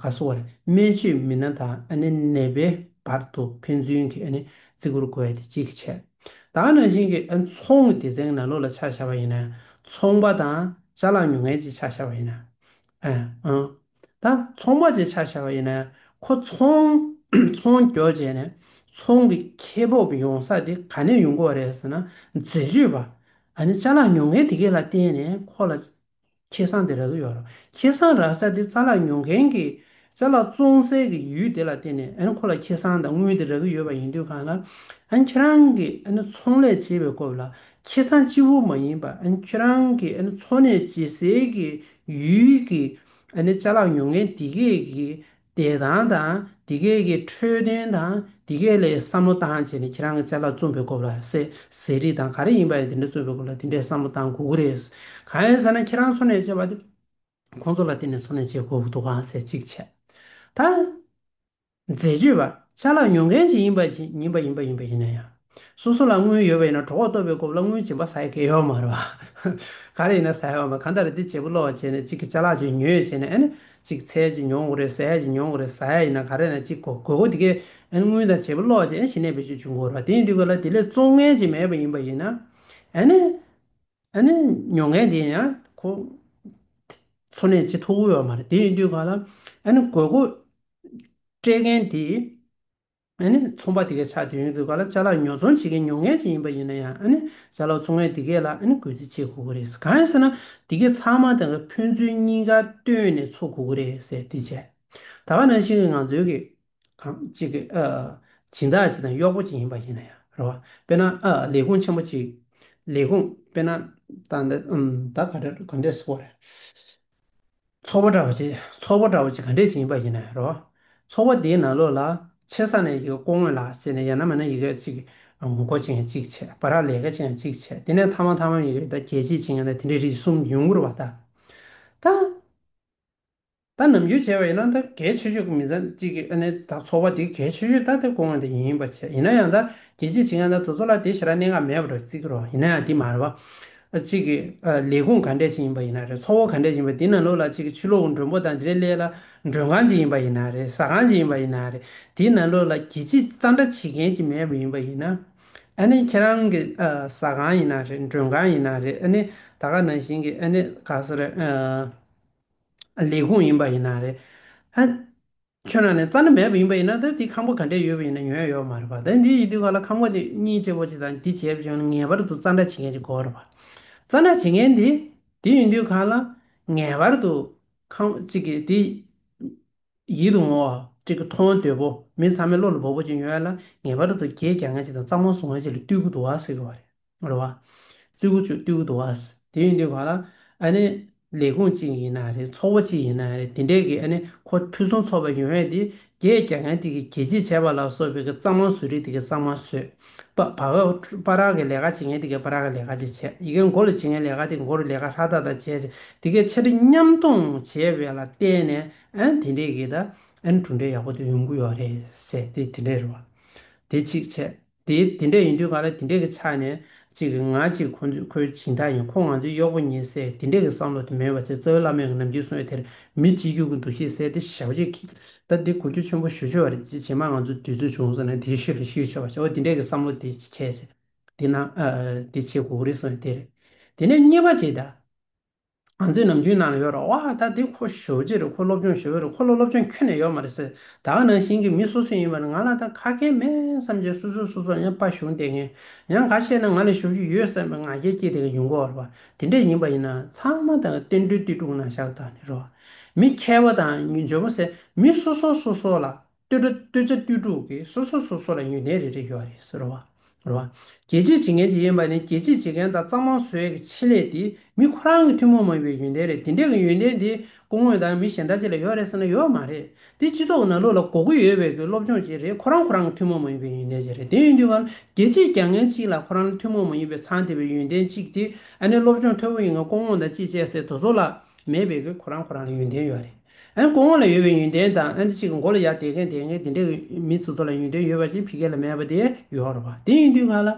ག་སོ་བར་སྨན་བཅོས་མི་སྣ་དང་ནད་པའི་བར་དུ་ཕན་ཚུན་གྱི་བརྩི་བཀུར་གོ་བའི་དེ་གཅིག་གི་ཆེད་དུ། ད་ནང་བཞིན་གྱི་ཚོང་གི་སྡེ་ཚན་ནག་ལོ་ལ་ཆགས་བཞག་པ་ཡིན་ན། ཚོང་པ་དང་བྱ་ལང་ཉུང་ངལ་གྱིས་ཆགས་བཞག་པ་ཡིན་ན། ད་ཚོང་པ་བཅས་ཆགས་བཞག་པ་ཡིན་ན། ཁོ་ཚོང་སྐྱོར་བྱས་ནས་ཚོང་གི་ཁེ་སྤོགས་ཡོང་ས་དེ་ག་ནས་ཡོང་དགོས་པ་རེད་ཟེར་ན་འཛད་སྤྱོད་པ། བྱ་ལང་ཉུང་ངལ་དེ་གའི་ལ་བརྟེན་ནས་ཁོ་ལ། ཁྱེད་སང་དེ་རག་གི་ཡོད་རོགས་ཁྱེད་སང་རག་ས་དེ་རྩ་ལག་ཉོ་མཁན་གི་རྩ་ལག་བཙོང་སའི་གི་ཡུལ་དེ་ལ་བརྟེན་ནས་ཨན་ཁོ་ལ་ཁྱེད་སང་དང་དངུལ་དེ་རག་གི་ཡོད་པ་ཡིན་དུས་གང་ལ་ཨན་ཁྱེད་རང་གི་ཨན་ཚོང་ལས་བྱེད་པའི་སྐོབས་ལ་ཁྱེད་སང་སྤྱི་བོ་མ་ཡིན་པ་ཨན་ཁྱེད་རང་གི་ཨན་འཚོ་གནས་བྱེད་སའི་གི་ཡུལ་གི་ཨན་རྩ་ལག་ཉོ་མཁན་དེ་གས་གི་བདེ་ཐང་དང་འདི་སྐད་ཀྱི་འཕྲོད་བསྟེན་དང་འདི་སྐད་ལས་བསམ་བློ་བཏང་བྱས་ནས་ཁྱེད་རང་གི་བཅའ་ལག་རྩོམ་པའི་སྐོར་ལ་ཟས་ཟས་རིགས་དང་ག་རེ་ཡིན་པ་ཡང་འདི་འདྲ་རྩོམ་པའི་སྐོར་ལ་འདི་འདྲའི་བསམ་བློ་བཏང་དགོས་ཀྱི་རེད། གང་ཡིན་ཟེར་ན་ཁྱེད་རང་འཚོ་གནས་བྱས་པ་དེ་ཁོང་ཚོ་ལ་བརྟེན་ནས་འཚོ་གནས་བྱེད་དགོས་ཀྱི་འདུག་གང་ཟེར་ཅིག་བྱས་ད། འཛད་སྤྱོད་པ་བཅའ་ལག་ཉོ་མཁན་ཞིག་ཡིན་པ་ཡིན་པ་ཡིན་པ་ཡིན་པ་ཡིན་ན་ཡང། སོ་སོ་ལ་དངུལ་ཡོད་པ་ཡིན་ན་གྲོགས་འོག་གཏོར་བའི་སྐོར་ལ་དངུལ་སྦྱིན་པ་ཟ་ཡི་གེ་ཡོད་མ་རེད་བ། ག་རེ་ཡིན་ན་ཟ་ཡི་བ་མ་གང་ལྟར་འདི་བྱེད་པོ་ལོག་བྱས་ནས་གཅིག་གི་ཆ་ལག་ཅིག་ཉོས་བྱས་ནས་ཨེ་ན་གཅིག་ཚལ་ཅིག་ཉོ་འོ་རེད་ཟས་ཅིག་ཉོ་འོ་རེད་ཟ་ཡ་ཡིན་ན་ག་རེ་ཡིན་ན་གཅིག་གོ་དགོས་དེ་གས་ཨེ་ན་དངུལ་དང་བྱེད་པོ་ལོག་བྱས་ཨེ་ན་ཞི་གནས་བེད་སྤྱོད་བྱུང་དགོས་རེད་བ་དེ་ཡིན་དུས་ག་ལ་དེ་ལས་བཙོག་ངན་ཅིག་མེད་པ་ཡིན་པ་ཡིན་ན་ཨེ་ན་ཨེ་ན་ཉོ་མཁན་དེ་ཡང་ཁོ་འཚོ་གནས་ཅི་ཐུབ་དབུལ་བ་མ་རེད་དེ་ཡིན་དུས་ག་ལ་ཨེ་ན་དགོས་མཁོ་སྤྲད་མཁན་དེ། ཨ་ནི་ཚོང་པ་དེ་གས་ཆ་དེ་ཡོང་དུས་ག་ལ་བྱ་ལོག་ཉོ་ཚོང་བྱེད་མཁན་ཉོ་མཁན་ཅིག་ཡིན་པ་ཡིན་ན་ཡང་ཨ་ནི་བྱ་ལོག་ཚོང་མཁན་དེ་གས་ལ་ཨ་ནི་གུས་བརྩི་བྱེད་དགོས་ཀྱི་རེད་གང་ཡིན་ཟེར་ན་དེ་གས་ཚང་མ་དེ་གས་ཕན་ཚུན་གཉིས་ཀ་བཏོན་ནས་འཚོ་དགོས་ཀྱི་རེད་ཟེར་དེ་བྱས་ད་ག་ནང་བཞིན་གྱི་ང་ཚོའི་གི་གང་ཅིག་གི་ཨ་སྦྱིན་བདག་ཅིག་དང་གཡོག་པོ་ཅིག་ཡིན་པ་ཡིན་ན་ཡང་རེད་བ་དཔེར་ན་ཨ་ལས་ཁུངས་ཆེན་པོ་ཅིག་ལས་ཁུངས་དཔེར་ན་ད་འདི་ད་ག་འདྲ་ག་འདྲས་བཟོ་བ་རེད། ཚོར་བ་འདྲ་བ་ཅིག་ཚོར་བ་འདྲ་བ་ཅིག་ག་འདྲས་ཅིག་ཡིན་པ་ཡིན་ན་རོ། ཚོར་བ་དེའི་ནང་ལོགས་ལ་ཆེ་ས་ནས་ཡི་གེ་ཀོ་ངོས་ལ་ཟེར་ནས་ཡ་ན་མ་ན་ཡི་གེ་གཅིག་མགོ་ཅིག་ཡང་གཅིག་ཆད་པ་རག་ལས་ཀ་ཅིག་ཡང་གཅིག་ཆད་དེ་ནས་ཐ་མ་ཐ་མ་ཡི་གེ་དང་གྱད་གཅིག་ཅིག་ཡང་ན་དེ་འདྲའི་རིགས་གསུམ་ཡུན་འགོར་བ་ད། ད་ནམ་རྒྱུན་བྱས་པ་ཡིན་ན་ད་གལ་ཆེ་ཤོས་ཀྱི་མི་ཚང་གཅིག་གིས་ཨ་ནི་ད་ཚོར་བ་དེ་གལ་ཆེ་ཤོས་ད་དེ་ཀོ་ངོས་དེ་ཡིན་པར་བྱས་ཡིན་ན་ཡང་ད་གྱད་གཅིག་ཅིག་ཡང་ད་དུ་ཚོར་ལ་དེ་ཞེ་དྲག་གནད་འགག་མེད་པར་བརྩི་གི་རོ་ཡིན་ན་ཡང་དེ་མ་རེད་བ། གཅིག་གི་ལས་ཁུངས་ག་འདྲས་ཞིག་ཡིན་པ་ཡིན་ན་རེད་ཚོགས་འཁོར་ག་འདྲས་ཞིག་ཡིན་པ་འདི་ནང་ལོགས་ལ་གཅིག་གི་ཆུ་ལོག་མགྲོན་པོ་དང་འདི་རེ་ལས་ལ་མགྲོན་ཁང་གཅིག་ཡིན་པ་ཡིན་ན་རེད་ཟ་ཁང་གཅིག་ཡིན་པ་ཡིན་ན་རེད་འདི་ནང་ལོགས་ལ་གྱི་ཅི་རྩ་འདྲ་བྱེད་མཁན་གཅིག་མེད་པ་ཡིན་པ་ཡིན་ན་ཨ་ནི་ཁྱེད་རང་གི་ཟ་ཁང་ཡིན་ན་རེད་མགྲོན་ཁང་ཡིན་ན་རེད་ཨ་ནི་ད་ག་ནང་བཞིན་གྱི་ཨ་ནི་ག་ས་རེད་ལས་ཁུངས་ཡིན་པ་ཡིན་ན་རེད་ཨ། ཁྱོད་རང་ནི་རྩ་ན་མེད་པ་ཡིན་པ་ཡིན་ན་ད་དེ་ཁམས་པོ་ག་འདྲས་ཡོད་པ་ཡིན་ན་ཉོན་ཡོད་མ་རེད་པ་ད་འདི་ཡི་དུས་ག་ལ་ཁམས་པོ་དེ་གཉིས་བྱེད་པོ་ཅིག་དང་འདི་བྱེད་པོ་ཅིག་ཡོང་ན་ངེས་པར་དུ་རྩ་འདྲ་བྱེད་མཁན་ཅིག་དགོས་རེད་པ། རྩ་འདྲ་བྱེད་མཁན་དེ་དེ་ཡོང་དུས་ག་ལ་ངེས་པར་དུ་ཁམས་པོ་ཅིག་གིས་དེ་ཡིད་དུ་འོང་བ་ཅིག་མཐོང་འདོད་པོ་མི་ཚང་མའི་བློ་ལ་འབབ་པོ་ཅིག་ཡོང་ཡ་ལ་ངེས་པར་དུ་གྱེས་རྒྱག་མཁན་ཅིག་དང་རྩ་མང་བཟོ་མཁན་ཅིག་ལ་བསྟུན་དགོས་འདུག་ཟེར་གྱི་བ་རེད། རེད། རེད་བ། བཙུད་གུ་ཆུ་བཏུལ་གུ་འདུག་ཨཱས། དེ་ཡིན་དུས་ག་ལ། ཨཱ་ནི། ལས་ཁུངས་གཅིག་ཡིན་ན་རེད། ཚོགས་པ་གཅིག་ཡིན་ན་རེད། དེ་འདྲའི་གི་ཨཱ་ནི། ཁོ་ཕུན་སུམ་ཚོགས་པའི་ཡོན་ཧའེ་དེ། རྒྱའི་རྒྱ་གན་དེ་གི་རྒྱལ་སྤྱིའི་བྱས་པ་ལ་སོགས་པའི་གི་གཙང་མ་བཟོས་རིགས་དེ་གི་གཙང་མ་བཟོས། པ་བ་ག། པ་རག་གི་ལས་ཀ་བྱེད་མཁན་དེ་གི་པ་རག་གི་ལས་ཀ་ཅིག་བྱས། ཡི་གེ་མགོ་རུ་བྱེད་མཁན་ལས་ཀ་དེ་མགོ་རུ་ལས་ཀ་ཧྲ་ཏག་ཏག་བྱས། དེ་གའི་ཆ་འཕྲིན་མཉམ་གཏོང་བྱས་པའི་ལ་བརྟེན་ནས་ཨཱ་ནི་དེ་འདྲའི་གི་ད་ཨཱ་ནི་གྲུབ་འབྲས་ཡག་པོ་དེ་ཡོང་གི་ཡོད་རེད། ཟེར་དེ་དེ་འདྲའི་རེད་བ། དེ་གཅིག་བྱས། དེ་དེ་འདྲས་ཡིན་དུས་ག་ལ་དེ་འདྲས་ཀྱི་ཆ་ནས་ཅིག་ང་གཅིག་ཁོ་ཚོས་ཁོའི་བྱིས་མཐའ་ཡིན་ཁོ་ང་ཚོའི་གཡོག་པོ་ཉིད་ཟེར་དེ་འདྲས་ཀྱི་བསམ་བློ་དེ་མེད་པ་ཚེ་བཙའུ་བླ་མས་གི་ནམ་རྒྱུན་གསུངས་ཡོད་དེར་མི་གཅིག་གྱུར་གྱི་འདུ་ཤེས་བསལ་ཏེ་ཞབས་རྗེས་ཀྱིས་ད་འདི་གོ་རྒྱུ་ཆེན་པོ་ཞུ་ཆོག་རེད་ཅེས་བྱེ་མ་ང་ཚོས་དུས་ཚོད་བྱུང་སོང་ན་དེ་ཤུ་རེ་ཤུ་ཆོག་ཅེས་འོ་དེ་འདྲས་ཀྱི་བསམ་བློ་དེ་ཁྱད་ཆེ་དེ་ན་དེ་བྱེད་གོ་རེ་གསུངས་ཡོད་དེ་རེད་དེ་ནས་རྙེད་པ་ཅིག་ད། ང་ཚོའི་ནམ་རྒྱུན་ནང་ལ་ཡོད་རེད་བ་ད་དེ་ཁོ་ཞོ་རྗེ་རེད་ཁོ་སློབ་སྦྱོང་ཞོ་རེད་ཁོ་ལ་སློབ་སྦྱོང་ཁྱོན་ནས་ཡོད་མ་རེད་ཟེར་ད་ག་ནང་བཞིན་གྱི་མི་སོ་སོ་ཡིན་པ་རེད་ང་ལ་ད་ཁ་སྐད་མེད་བསམ་བྱས་སོ་སོས་སོ་སོར་ཡང་དཔའ་ཞུང་བསྟེན་ངེས་ཡང་ག་བཤད་ན་ང་ལ་ཞོ་ཞུ་ཡོད་བསམ་པའི་ང་རྒྱལ་སྐྱེས་དེ་ག་ཡུན་གོ་རེད་བ་དེ་འདྲས་ཡིན་པ་ཡིན་ན་ཚང་མ་ད་ག་བསྟན་འགྲོའི་གཏི་དྲུག་ནང་བཞག་ད་ནི་རེད་བ་མི་མཁས་པ་དང་འཇོན་པོ་ཟེར་མི་སོ་སོ་སོ་སོ་ལ། བསྟོད་དྲུག་བསྟོད་བྱ་བསྟོད་དྲུག་གིས་སོ་སོ་སོ་སོ་ལ་ཉོན་ཏན་རེ་རེ་ཡོད་རེད་ཟེར་རོ། རྒྱལ་གཅེས་བྱེད་མཁན་གཅིག་ཡིན་པ་ནི་རྒྱལ་གཅེས་བྱེད་མཁན་དང་གཙང་མ་བཟོ་ཡས་ཀྱི་ཆེད་ལས་དེ་མི་ཁོ་རང་གི་ཐུན་མོང་མ་ཡིན་པའི་ཡོན་ཏན་རེད་དེ་འདྲས་ཀྱི་ཡོན་ཏན་དེ་སྐུ་དངོས་དང་མི་གཞན་དག་ཅིག་ལ་ཡོད་རེད་ཟེར་ན་ཡོད་མ་རེད་དེ་སྤྱི་ཚོགས་ནང་ལུགས་ལ་གོ་གི་ཡོད་པའི་གི་སློབ་སྦྱོང་བྱེད་རེད་ཁོ་རང་ཁོ་རང་གི་ཐུན་མོང་མ་ཡིན་པའི་ཡོན་ཏན་བྱེད་རེད་དེ་ཡིན་དུས་ང་རྒྱལ་གཅེས་རྒྱག་མཁན་གཅིག་ལ་ཁོ་རང་ལ་ཐུན་མོང་མ་ཡིན་པའི་མཚང་དེ་བའི་ཡོན་ཏན་གཅིག་དེ་ཨ་ནི་སློབ་སྦྱོང་ཐོལ་བོ་ཡིན་ང་སྐུ་དངོས་དང་ཅིག་བཅས་སའི་དོ་ཚོགས་ལ་མེད་པའི་གི་ཁོ་རང་ཁོ་རང་ལ་ཡོན་ཏན་ཡོད་རེད། ཨན་ཀོ་ངོ་ལ་ཡོད་པའི་ཡོན་ཏན་དང་ཨན་ཏི་ཅི་གི་མགོ་ལ་ཡར་དེད་མཁན་དེ་ངའི་དེ་འདྲའི་མི་ཚོ་ཚོ་ལ་ཡོན་ཏན་ཡོད་པ་ཅིག་ཕི་ཀེ་ལ་མེད་པ་དེ་ཡོར་བ་དེ་ཡིན་དུས་ང་ལ།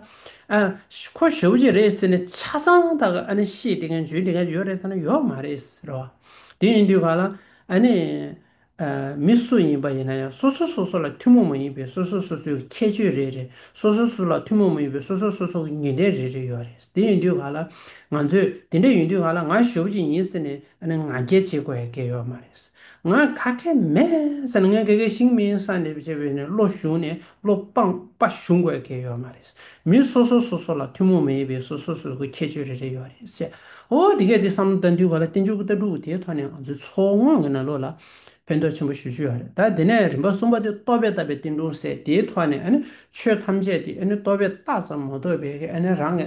ཨ། ཁོ་ཞོ་བུ་ཅིག་རེད་ཟེར་ནས་ཆ་ཚང་དག་གི་ཨ་ནི་ཤེས་དེ་མཁན་ཇོན་དེ་མཁན་ཅིག་ཡོད་རེད་ཟེར་ན་ཡོད་མ་རེད་ཟེར་བ་དེ་ཡིན་དུས་ང་ལ། ཨ་ནི། ཨ། མི་སུ་ཡིན་པ་ཡིན་ན་ཡང་སོ་སོ་སོ་སོ་ལ་ཐུན་མོང་མ་ཡིན་པའི་སོ་སོ་སོ་སོའི་ཁྱད་ཆོས་རེ་རེ་སོ་སོ་སོ་སོ་ལ་ཐུན་མོང་མ་ཡིན་པའི་སོ་སོ་སོ་སོ་གི་ཡོན་ཏན་རེ་རེ་ཡོད་རེད་དེ་ཡིན་དུས་ང་ལ། ང་ཚོས་དེ་འདྲ་ཡིན་དུས་ང་ལ་ང་ཞོ་བུ་ཅིག་ཡིན་ཟེར་ནས་ཨ་ནི་ང་རྒྱལ་བྱེད་དགོས་ཡ་རྒྱལ་ཡོད་མ་རེད། ང་ག་གེ་མེད་ས་ནི་ང་ག་གེ་ཞིག་མིན་ས་ནི་བྱས་པས་ནི་བློ་གཞུང་ནས་བློ་སྤངས་པ་གཞུང་དགོས་ཡ་གེ་ཡོད་མ་རེད། མི་སོ་སོ་སོ་སོ་ལ་ཐུན་མོང་མ་ཡིན་པའི་སོ་སོ་སོ་སོའི་ཁྱད་ཆོས་རེ་རེ་ཡོད་རེད་ཟེར། ཨོ་དེ་གས་དེ་བསམ་བློ་བཏང་དུས་ག་ལ་བསྟན་བཅོས་ཀྱི་ལྟ་གྲུབ་དེའི་ཐོག་ནས་ང་ཚོའི་མཚོ་སྔོན་གྱི་ན་ལོ་ལ་ཕན་ཐོགས་ཆེན་པོ་ཞུ་རྒྱུ་ཡོད་རེད་ད་དེ་ནས་རིམ་པ་གསུམ་པ་དེ་རྟོག་པས་བཏགས་པའི་བསྟན་སྒྲུང་ཟེར་དེའི་ཐོག་ནས་ཨ་ནི་ཆོས་ཐམས་ཅད་དེ་ཨ་ནི་རྟོག་པས་བཏགས་ཙམ་མ་གཏོགས་པའི་ཨ་ནི་རང་གི་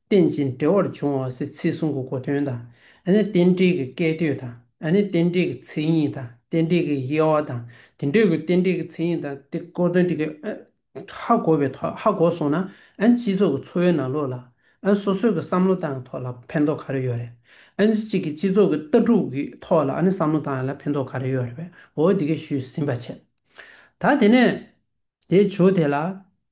རྟེན་ཅིང་འབྲེལ་བར་འབྱུང་བ་སའི་ཚིག་གསུང་གི་གོ་དོན་དང། རྟེན་འབྲེལ་གྱི་སྐད་དོད་དང། རྟེན་འབྲེལ་གྱི་མཚན་ཉིད་དང། རྟེན་འབྲེལ་གྱི་དབྱེ་བ་དང། དེ་འདྲའི་གོ་རྟེན་འབྲེལ་གྱི་མཚན་ཉིད་དང་དེ་གོ་དོན་དེ་གའི། ཧ་གོ་བའི་ཐོག་ཧ་གོ་སོང་ན། སྤྱི་ཚོགས་ཀྱི་འཚོ་བའི་ནང་ལོགས་ལ། སོ་སོའི་གི་བསམ་བློ་བཏང་ཐོག་ལ་ཕན་ཐོག་ག་རེ་ཡོད་རེད། གཅིག་གི་སྤྱི་ཚོགས་ཀྱི་ལྟ་གྲུབ་ཀྱི་ཐོག་ལ་བསམ་བློ་བཏང་ཡོད་ལ་ཕན་ཐོག་ག་རེ་ཡོད་རེད་བས་འོ་དེ་གས་ཞུས་ཟིན་པ་བྱས། ད་དེ་ནས་དེའི་ཇོ་དེ་ལ།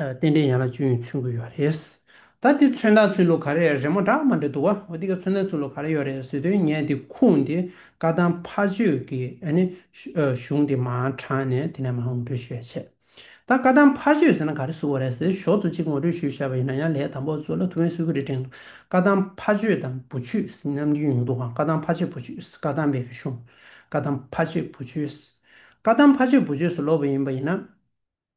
རྟེན་འབྲེལ་ཡན་ལག་བཅུ་ཡོད་ཚུལ་འགོད་ཡོད་རེད། ད་དེ་ཚོན་མདངས་ཚུལ་ལོ་ག་རེ་རེད་མོ་འདྲ་མ་འདྲ་འདུག་བ་འོ་དེ་ག་ཚོན་མདངས་ཚུལ་ལོ་ག་རེ་ཡོད་རེད་ཟེར་དུས་ངས་དེ་ཁུངས་དེ་བཀའ་ཐང་ཕ་ཆོས་ཀྱི་གཞུང་དེ་མ་དྲངས་ནས་དེ་ནས་མ་ངོ་སྤྲོད་ཞུས་ཡ་བྱས། ད་བཀའ་ཐང་ཕ་ཆོས་ཟེར་ན་ག་རེ་བཟོ་བ་རེད་ཟེར་ཞོར་དུ་གཅིག་ངོ་སྤྲོད་ཞུས་བཞག་པ་ཡིན་ན་ཡང་ལས་དང་པོ་བཟོ་ལ་ཐུགས་ཕན་གསོས་ཀྱི་རེད་དྲན་འདུག་བཀའ་ཐང་ཕ་ཆོས་དང་བུ་ཆོས་རྣམ་རྒྱུན་ཡོང་འདུག་ག་བཀའ་ཐང་ཕ་ཆོས་བུ་ཆོས་བཀའ་ཐང་པའི་གཞུང། བཀའ་ཐང་ཕ་ཆོས་བུ་ཆོས། བཀའ་ཐང་ཕ་ཆོས་བུ་ཆོས་སུ་ལོག་པ་ཡིན་པ་ཡིན་ན།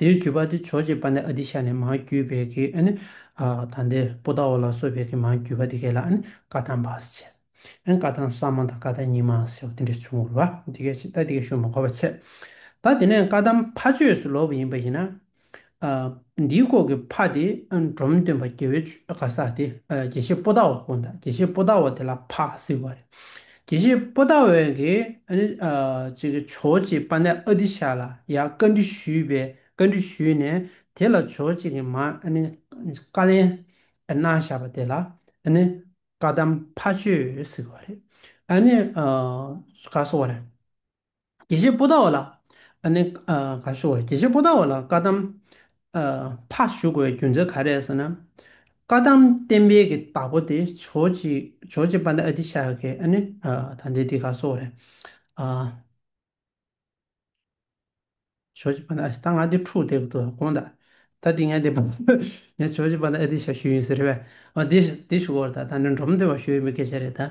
དེའི་བརྒྱུད་པ་དེ་ཆོས་རྗེ་པཱ་ནི་ཨ་ཏི་ཤ་ནས་མ་བརྒྱུད་པའི་གི་ཨ་ནི་ད་ནྡེ་པུ་ཏཱ་བོ་ལ་སོགས་པའི་གི་མ་བརྒྱུད་པ་དེ་གས་ལ་ཨ་ནི་ཀ་ཐང་བ་སི་ཆེ་ཨ་ནི་ཀ་ཐང་ས་མ་དང་ཀ་ཐང་ཉི་མ་སེ་བ་དེ་འདྲ་བྱུང་བར་བ་དེ་གས་ཤིག་ད་དེ་གས་ཤུ་མ་གོ་བ་ཚད་ད་དེ་ནས་ཀ་ཐང་ཕ་ཆོས་སུ་ལོག་པ་ཡིན་པ་ཡིན་ན། འདིའི་སྐོར་གི་ཕ་དེ་འབྲོམ་སྟོན་པ་དགེ་བའི་ཆོས་ག་ས་དེ་དགེ་བཤེས་པུ་ཏཱ་བོ་དགོངས་དག་དགེ་བཤེས་པུ་ཏཱ་བོ་དེ་ལ་ཕ་སི་བ་རེད། དེ་བཞིན་པོ་ཏཱ་བོན་གྱི་ཇོ་གཅིག་པ་ནས་ཨ་ཏི་ཤ་ལ་ཡང་བཀའ་འདྲི་ཞུས་པས་བཀའ་འདྲི་ཞུས་ནས་དེ་ལ་ཇོ་གཅིག་གི་མ་བཀའ་ལན་གནང་བཞག་པ་དེ་ལ་བཀའ་གདམས་ཕ་ཆོས་ཟེར་བ་རེད། དགེ་བཤེས་སྤོ་ད་བ་ལགས། ཨ་ནི། ག་ཞོག་དགེ་བཤེས་སྤོ་ད་བ་ལགས་བཀའ་གདམས། ཕ་བཞུགས་དགོས་པའི་རྒྱུ་མཚན་ག་རེད་ཟེར་ན། བཀའ་གདམས་བསྟན་འཕེལ་གྱི་བདག་པོ་དེ་ཇོ་གཅིག་ཇོ་གཅིག་པ་འདི་ཨ་ཏི་ཤ་ཡ་གི་ཨ་ནི། ད་འདི་འདི་ག་ཞོག་རེད། ཇོ་གཅིག་པ་འདི་ཨ་ཞེ་ད་ང་འདི་ཕྲུག་དེ་དགོངས་དག་ད་འདི་ངས་འདི་བོད་ངས་ཇོ་གཅིག་པ་འདི་ཨ་ཏི་ཤ་ཞུས་ཡིན་ཟེར་བས་འདི་ཞུ་དགོས་རེད་ད་འདི་འབྲོམ་སྟོན་པ་ཞུ་ཡི་མི་གལ་ཆེ་རེད་ད།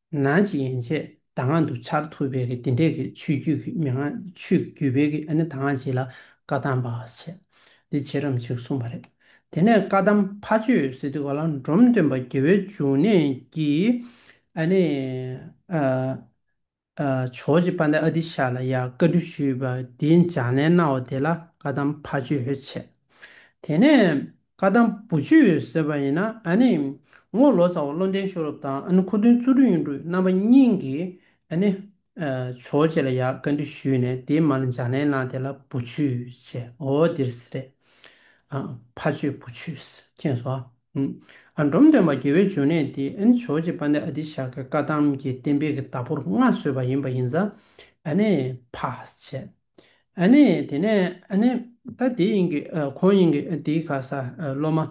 ནང་བྱེད་ཡན་ཆད་དང་ངང་དུ་འཆར་ཐུབ་པའི་གི་དེ་འདྲས་གི་ཆུས་རྒྱུད་གི་མི་ངང་ཆུས་རྒྱུད་པའི་གི་ཨ་ནི་དང་ངང་བྱེད་ལ་བཀའ་གདམས་པ་བྱེད་འདི་བྱེད་རམ་ཞེས་གསུངས་པ་རེད། དེ་ནས་བཀའ་གདམས་ཕ་ཆོས་སི་ཏུ་ག་ལ་འབྲོམ་སྟོན་པ་དགེ་བའི་འབྱུང་གནས་ཀྱིས་ཨ་ནི་ཇོ་རྗེ་པ་ནི་ཨ་ཏི་ཤ་ལ་ཡང་བཀའ་འདྲི་ཞུས་པ་འདི་འཇགས་ནས་གནང་བ་དེ་ལ་བཀའ་གདམས་ཕ་ཆོས་བྱེད། དེ་ནས། བཀའ་གདམས་བུ་ཆུ་ཡོད་ཟེར་བ་ཡིན་ན་ཨ་ནི། ངོ་ལོ་ཚ་བ་བློ་ལྡན་ཤོ་རོབ་དང་ཨ་ནི་ཁུ་དོན་བཙུ་སྒྲུ་གཡུ་འབྲུག་རྣམ་པ་གཉིས་ཀྱིས་ཨ་ནི། ཆོས་རྗེ་ལ་ཡག་བཀའ་འདྲི་ཞུས་ནས་དེའི་མ་ལ་འཇག་ནས་ན་དེ་ལ་བུ་ཆུ་བྱས་འོ་འདིར་ཟེར་རེད། ཕ་ཆོས་བུ་ཆུས་ཁེངས་སོ། ཨ་འབྲོམ་སྟོན་པ་དགེ་བའི་འབྱུང་གནས་དེ་ཨ་ནི་ཆོས་རྗེ་དཔལ་ལྡན་ཨ་ཏི་ཤ་ཀའི་བཀའ་གདམས་ཀྱི་གཏན་འབེབས་ཀྱི་བདག་པོར་མངའ་བཟོས་པ་ཡིན་པ་ཡིན་ཙང་ཨ་ནི། ཕ་བྱས། ཨ་ནི་དེ་ནས་ཨ་ནི། ད་དེ་ཡིན་གྱི་ཁོང་ཡིན་གྱི་དེའི་ག་ས་སློབ་མ།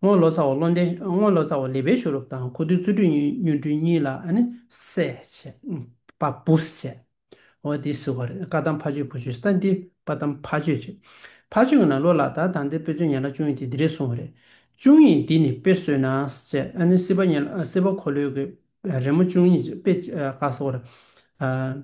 སྔོན་ལོ་ཙཱ་བ་བློ་ལྡན་སྔོན་ལོ་ཙཱ་བ་ལི་པའི་ཞུ་རུབ་དང་ཁོ་དུས་རྩོད་སྒྲུས་སྨྱོ་སྒྲུས་གཉིས་ལ་ཨ་ནི་སེ་བྱས། པ་པུས་བྱས། འོ་དེ་ཟེར་བ་རེད་བཀའ་གདམས་ཕ་ཆོས་བུ་ཆོས་ད་འདི་བཀའ་གདམས་ཕ་ཆོས་རེད། ཕ་ཆོས་གི་ནང་ལོ་ལ་ད་ད་འདི་དཔེ་མཚོན་ཉན་ལ་ཅུང་ཡིན་དེ་འདི་རེད་གསུངས་བ་རེད། ཅུང་ཡིན་འདི་ནི་དཔེ་བཟོས་ན་བྱས་ཨ་ནི་སྲིད་པ་ཉན་ལ་སྲིད་པ་འཁོར་ལོས་གི་རེ་མོ་ཅུང་ཡིན་དཔེ་ག་ས་བ་རེད།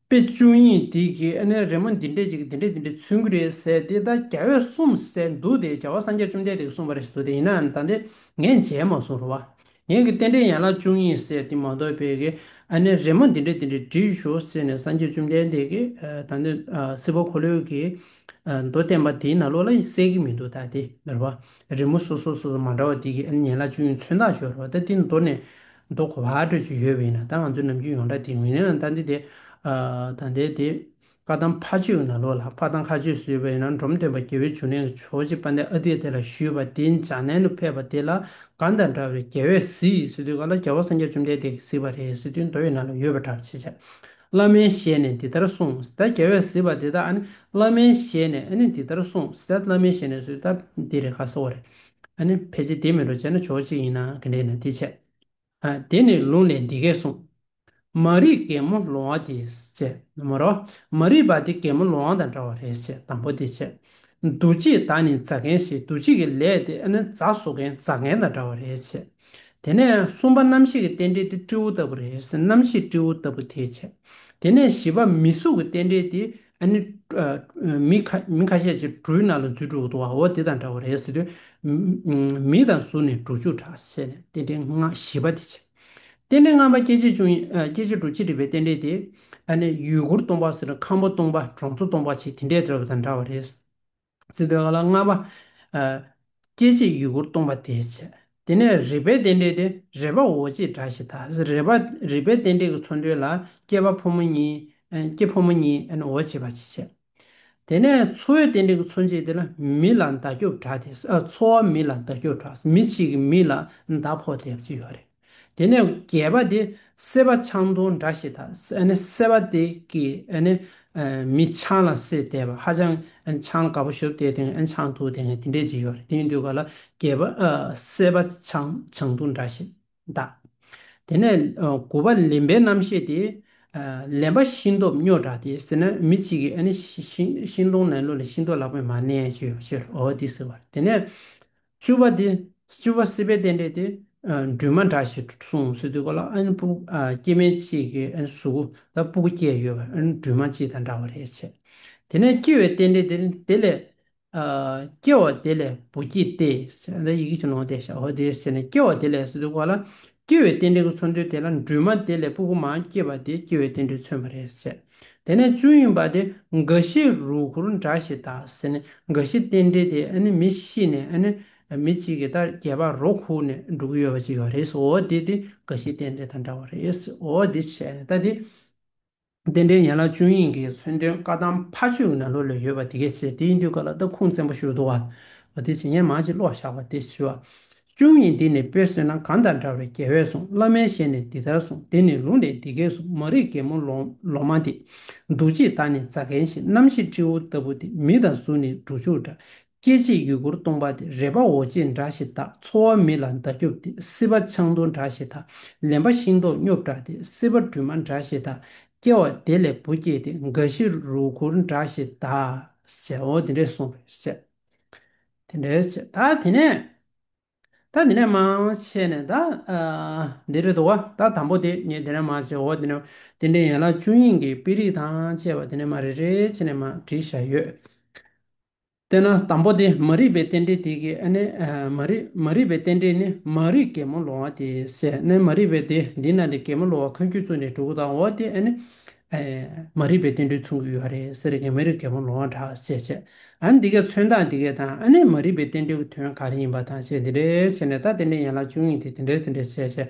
དཔེ་བཅུ་ཡིན་དེ་གིས་ཨ་ནེ་རེ་མོ་འདི་འདྲས་ཅིག་འདི་འདྲས་འདི་འདྲས་ཚུན་གྱི་རེད་ཟེར་དེ་ད་རྒྱ་བོད་གསུམ་ཟེར་འདུག་དེ་རྒྱ་བོད་སངས་རྒྱས་བཅོམ་ལྡན་འདས་ཀྱི་གསུངས་པ་རེད་ཟེར་འདུག་དེ་ཡིན་ནའང་ད་དེ་ངས་མཇལ་མ་སོང་རེད་བ། ངས་ཀྱི་རྟེན་འབྲེལ་ཡན་ལག་བཅུ་གཉིས་ཟེར་དེ་མ་གཏོགས་དཔེ་གི་ཨ་ནེ་རེ་མོ་འདི་འདྲས་འདི་འདྲས་བྲིས་ཞོག་ཟེར་ནས་སངས་རྒྱས་བཅོམ་ལྡན་འདས་ཀྱི་ད་ནི་སྲིད་པ་འཁོར་ལོས་ཀྱི་མདོ་བསྟན་པ་དེའི་ནང་ལོགས་ལ་གསལ་གྱི་མི་འདུག་ད་དེ་འདྲ་བ་རེ་མོ་སོ་སོ་སོ་སོ་མ་འདྲ་བ་དེ་གིས་ཨ་ནེ་ཡན་ལག་བཅུ་གཉིས་ཚོན་མདངས་ཞོར་རེད་བ་ད་དེ་མདོ་ནས་མདོ་གོ་བ་སྤྲོད་རྒྱུ་ཡོད་པས་ན་ད་ང་ཚོའི་ནམ་རྒྱུན་ཡོངས་གྲགས་དེ་ངོས་ལེན་ལ་ལྟ་འདི་དེ། ད་ལྟའི་དེ། བཀའ་ཐང་ཕ་ཆོས་ན་ལོ་ལ་བཀའ་ཐང་ཁ་ཆོས་སུ་ཡོད་པས་ན་འབྲོམ་སྟོན་པ་རྒྱལ་བོའི་བྱུང་ལན་གྱི་ཆོས་རྗེ་པཎྜི་ཏའི་ཨ་ཏིས་དེ་ལ་ཞུས་པ་དེ་འཇའ་ནན་དུ་ཕེབས་པ་དེ་ལ་གང་དང་འདྲ་བའི་རྒྱལ་བས་གཟིགས་ཡིན་ཟེར་དུས་ག་ལ་རྒྱལ་བ་སངས་རྒྱས་བཅོམ་ལྡན་འདས་ཀྱིས་གཟིགས་པ་རེད་ཟེར་དུས་མདོ་ཡི་ནང་ལ་ཡོད་པ་འདྲ་བ་བྱེད། བླ་མའི་ཞལ་ནས་འདི་ལྟར་གསུངས་ཟེར་ད་རྒྱལ་བས་གཟིགས་པ་དེ་ད་ཨ་ནི་བླ་མའི་ཞལ་ནས་ཨ་ནི་འདི་ལྟར་གསུངས་ཟེར་ད་བླ་མའི་ཞལ་ནས་ཟེར་དུས་ད་འདི་རེད་ག་ཟེར་བ་རེད། ཨ་ནི་ཕལ་ཆེར་དེ་མིན་འགྲོ་བྱེད་ན་ཆོག་ཅིག་ཡིན་ན་ག་འདྲས་ན་དེ་བྱས། དེ་ནས་ལུང་ལས་འདི་སྐད་གསུངས། མ་རིག་གད་མོ་ལོང་བ་དེ་བྱས། མོ་རོ། མ་རིག་པ་དེ་གད་མོ་ལོང་བ་དང་འདྲ་བ་རེད་ཅེས་དང་པོ་དེ་བྱས། འདུ་བྱེད་དག་ནི་འཛག་མཁན་ཞེས་འདུ་བྱེད་ཀྱི་ལས་དེ་ཨ་ནི་རྫ་བཟོ་མཁན་འཛག་མཁན་དང་འདྲ་བ་རེད་བྱས། དེ་ནས་གསུམ་པ་རྣམ་ཤེས་ཀྱི་རྟེན་འབྲེལ་དེ་སྤྲེའུ་ལྟ་བུ་རེད་རྣམ་ཤེས་སྤྲེའུ་ལྟ་བུ་དེ་བྱས། དེ་ནས་བཞི་པ་མི་གཟུགས་ཀྱི་རྟེན་འབྲེལ་དེ་ཨ་ནི། མི་ཁ་ཤས་ཀྱིས་སྦྲུལ་ནག་ལ་རྫུས་དྲུག་འདུག་བ་འོ་དེ་དང་འདྲ་བ་རེད་ཟེར་དུས། མི་དང་གཟུགས་ནི་དྲུག་ཅུ་གྲགས་ཟེར་ནས་རྟེན་འབྲེལ་ལྔ་བཞི་པ་དེ་བྱས། རྟེན་འབྲེལ་ལྔ་པ་སྐྱེ་མཆེད་བཅུ་སྐྱེ་མཆེད་དྲུག་ཅི་འདྲི་བའི་རྟེན་འབྲེལ་དེ། ཨ་ནི་ཡུལ་གུར་སྟོང་པ་ཟེར་ཁམ་བུ་སྟོང་པ་གྲོང་ཚོ་སྟོང་པ་ཆེ་དེ་འདྲས་བརྩོད་པ་དང་འདྲ་བ་རེད། སི་ཏུ་ཨ་ལ་ལྔ་པ། སྐྱེ་མཆེད་ཡུལ་འཁོར་སྟོང་པ་དེའི་ཕྱེད། དེ་ནས་རིག་པའི་རྟེན་འབྲེལ་ཏེ་རེ་བ་འོ་ཅེས་སྒྲ་བཞི་དང་རེ་བ་རིག་པའི་རྟེན་འབྲེལ་གྱི་ཚོར་འདོད་ལ་སྐྱེ་བ་ཕོ་མོ་གཉིས། སྐྱེ་ཕོ་མོ་གཉིས་འོ་བྱེད་པ་ཅེས་བྱ། དེ་ནས་འཚོ་བའི་རྟེན་འབྲེལ་གྱི་ཚོར་འཆད་དེ་ལ་མི་ལ་མདའ་སྐྱོབ་དྲག་དེ། འཚོ་བ་མི་ལ་མདའ་སྐྱོབ་དྲག་མི་གཅིག་གིས་མི་ལ་མདའ་ཕོག་དེ་ཅེས་བྱ་བ་རེད། དེ་ནས་བརྒྱད་པ་དེ་སེ་བ་ཆང་དུང་འདྲ་ཞེས་དང། སེ་བ་དེ་ཀྱི་མི་ཆང་ལ་སེ་བལྟས་པ་ཧ་ཅང་ཆང་དགའ་པོ་ཞོབ་དེ་དེང་ཆང་དུ་དེ་འདྲས་ཅིག་ཡོད་རེད་དེའི་དུས་སྐབས་ལ་བརྒྱད་པ་སེ་བ་ཆང་ཆང་དུང་འདྲ་ཞེས་བཏགས། དེ་ནས་དགུ་པ་ལེན་པའི་རྣམ་ཤེས་དེ། ལེན་པ་ཤིང་སྟོབས་སྨྱོ་འདྲ་དེ་ཟེར་ན་མི་གཅིག་གིས་ཤིང་སྡོང་ལེན་ལོ་ལས་ཤིང་སྡོང་ལག་པས་མ་ལེན་ཞེས་ཞུས་ལ་འོ་དེ་ཟེར་བ་རེད་དེ་ནས། བཅུ་བ་དེ་བཅུ་བ་སྲིད་པའི་རྟེན་འབྲེལ་དེ་སྦྲུལ་མ་འདྲ་ཞེས་གསུངས་སྲིད་དུས་གོ་ལ་ཨན་སྤུ་སྐྱེས་མའི་གཅིག་གི་ཨན་གཟུགས་ལ་སྤུ་གུ་སྐྱེས་ཡོད་པ་ཨན་སྦྲུལ་མ་གཅིག་དང་འདྲ་བ་རེད་བྱས། དེ་ནས་སྐྱེ་བའི་རྟེན་འབྲེལ་དེ་དེ་ལས། སྐྱེ་བ་དེ་ལས་སྦུ་སྐྱེས་ཏེ། ཟེར་ན་ཡི་གེ་ཆུང་ནོ་ཏེ་ཞའོ་ཏེ་ཟེར་ནས་སྐྱེ་བ་དེ་ལས་སྲིད་དུས་གོ་ལ་སྐྱེ་བའི་རྟེན་འབྲེལ་གྱི་མཚོན་དོན་དེ་ལ་འབྲུ་མ་དེ་ལས་སྤུ་གུ་མ་སྐྱེས་པ་དེ་སྐྱེ་བའི་རྟེན་འབྲེལ་མཚོན་པ་རེད་ཟེར། དེ་ནས་བཅུ་ཡིན་པ་དེ་འགའ་ཤས་རུས་གུར་འདྲ་ཞེས་དག་ཟེར་ནས་འགའ་ཤས་རྟེན་འབྲེལ་དེ་ཨ་ནི་མི་ཤི་ནས་ཨ་ནི་མི་གཅིག་གི་ལྟར་རྒྱལ་པ་རོ་ཁུག་ནས་འགྲོ་གི་ཡོད་པ་ཅིག་ཡོད་རེད་ཟེར་འོ་དེ་དེ་འགའ་ཤས་རྟེན་འབྲེལ་དང་འདྲ་བ་རེད་ཟེར་འོ་དེ་བྱས་ནས་ལྟ་དེ། རྟེན་འབྲེལ་ཡན་ལག་བཅུ་ཡིན་གྱི་མཚོན་དོན་བཀའ་གདམས་ཕ་ཆོས་ཀྱི་ནང་ལུགས་ལས་ཡོད་པ་དེ་གས་ཚེ་དེའི་འདུལ་བཀའ་ལ་སྟབས་ཁུང་བཙན་པོ་ཞུ་དོ། བ་དེ་བྱེད་ཉན་མ་ཅིག་ཀློག་བཞག་པ་དེ་ཞུ། བཅུ་གཉིས་འདི་ནས་དཔེར་སོན་ན་གང་དང་འདྲ་བའི་རྒྱལ་བས་གསུངས་བླ་མའི་ཞལ་ནས་འདི་ལྟར་གསུངས་དེ་ནས་ལུང་ནས་འདི་སྐད་གསུངས་མ་རིག་རྒན་མོ་ལོ་མ་འདི། འདུ་བྱེད་དག་ནི་རྫ་མཁན་བཞིན་རྣམ་ཤེས་སྤྲེའུ་ལྟ་བུ་འདི་མི་དང་གཟུགས་ནི་འབྲུ་ཕྱུགས་འདྲ་སྐྱེ་མཆེད་ཡུལ་འཁོར་སྟོང་པ་དེ་རེ་བའོ་ཅེས་འདྲ་ཞེས་བརྟག་འཚོ་བ་མི་ལ་མདའ་སྐྱོབ་དེ་སྲིད་པ་ཆང་འཐུང་འདྲ་ཞེས་དང་ལེན་པ་ཤིང་ཏོག་སྙོབ་དྲགས་དེ་སྲིད་པ་སྦྲུལ་མ་འདྲ་ཞེས་དང་སྐྱེ་བ་དེ་ལས་བུ་སྐྱེས་དེ་འགའ་ཞིག་རུ་འཁོར་འདྲ་ཞེས་དག་བྱའོ་དེ་འདྲས་གསུངས་པས་བཤད། དེ་འདྲས་བྱེད་ད་དེ་ནས། ད་དེ་ནས་མང་ཆེ་ནས་ད། འདི་རེ་དོ་བ་ད་དང་པོ་དེ་ངས་དེ་ནས་མ་བྱའོ་དེ་ནས་དེ་འདྲས་ཡན་ལག་བཅུ་གཉིས་ཀྱི་དཔེ་རིས་དང་བཅས་པ་དེ་ནས་མ་རེ་རེ་བྱས་ནས་མ་བྲིས་བཞག་ཡོད། དེས་ན་དང་པོ་དེ་མ་རིག་པའི་རྟེན་འབྲེལ་དེ་གིས་ནི་མ་རིག། མ་རིག་པའི་རྟེན་འབྲེལ་ནི་མ་རིག་གེ་མོ་ལོང་བ་དེ་སེ་ནི་མ་རིག་པའི་དེ་འདི་ན་ནི་གེ་མོ་ལོང་བ་ཁོན་ཁྱོད་བཙུན་ནས་དྲུ་གུ་དང་འོ་དེ་ནི། མ་རིག་པའི་རྟེན་འབྲེལ་མཚུངས་ཀྱི་ཡོད་རེད་ཟེར་གི་མ་རིག་གེ་མོ་ལོང་བ་འདྲ་ཟེར་བྱས། ཨ་ནི་འདི་གའི་མཚོན་སྟངས་དེ་གས་དང་ཨ་ནི་མ་རིག་པའི་རྟེན་འབྲེལ་གྱི་དོན་ག་རེ་ཡིན་པ་དང་བྱས་འདི་འདྲའི་བྱས་ནས་ད་དེ་འདྲའི་ཡན་ལག་བཅུ་གཉིས་དེ་དེ་འདྲའི་དེ་འདྲའི་བྱས་བྱས།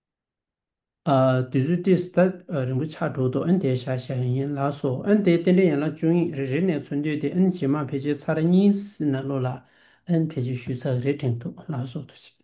དུས་ཚོད་ཏི་སི་ཐ་རིང་པོ་ཆགས་འགྲོ་འདུག་ཨན་དེའི་ཤ་ཞེ་ཡན་ཡན་ལག་སོ་ཨན་དེའི་རྟེན་འབྲེལ་ཡན་ལག་བཅུ་གཉིས་རེ་རེ་ནས་འཚོལ་འདོད་དེ་ཨན་ཇེ་མང་བེད་སྤྱད་ཚར་གཉིས་སི་ན་ལོ་ལ་ཨན་བེད་སྤྱོད་ཞུས་ཚར་རེ་དྲན་འདུག་ལག་སོ་དུ་ཆིག།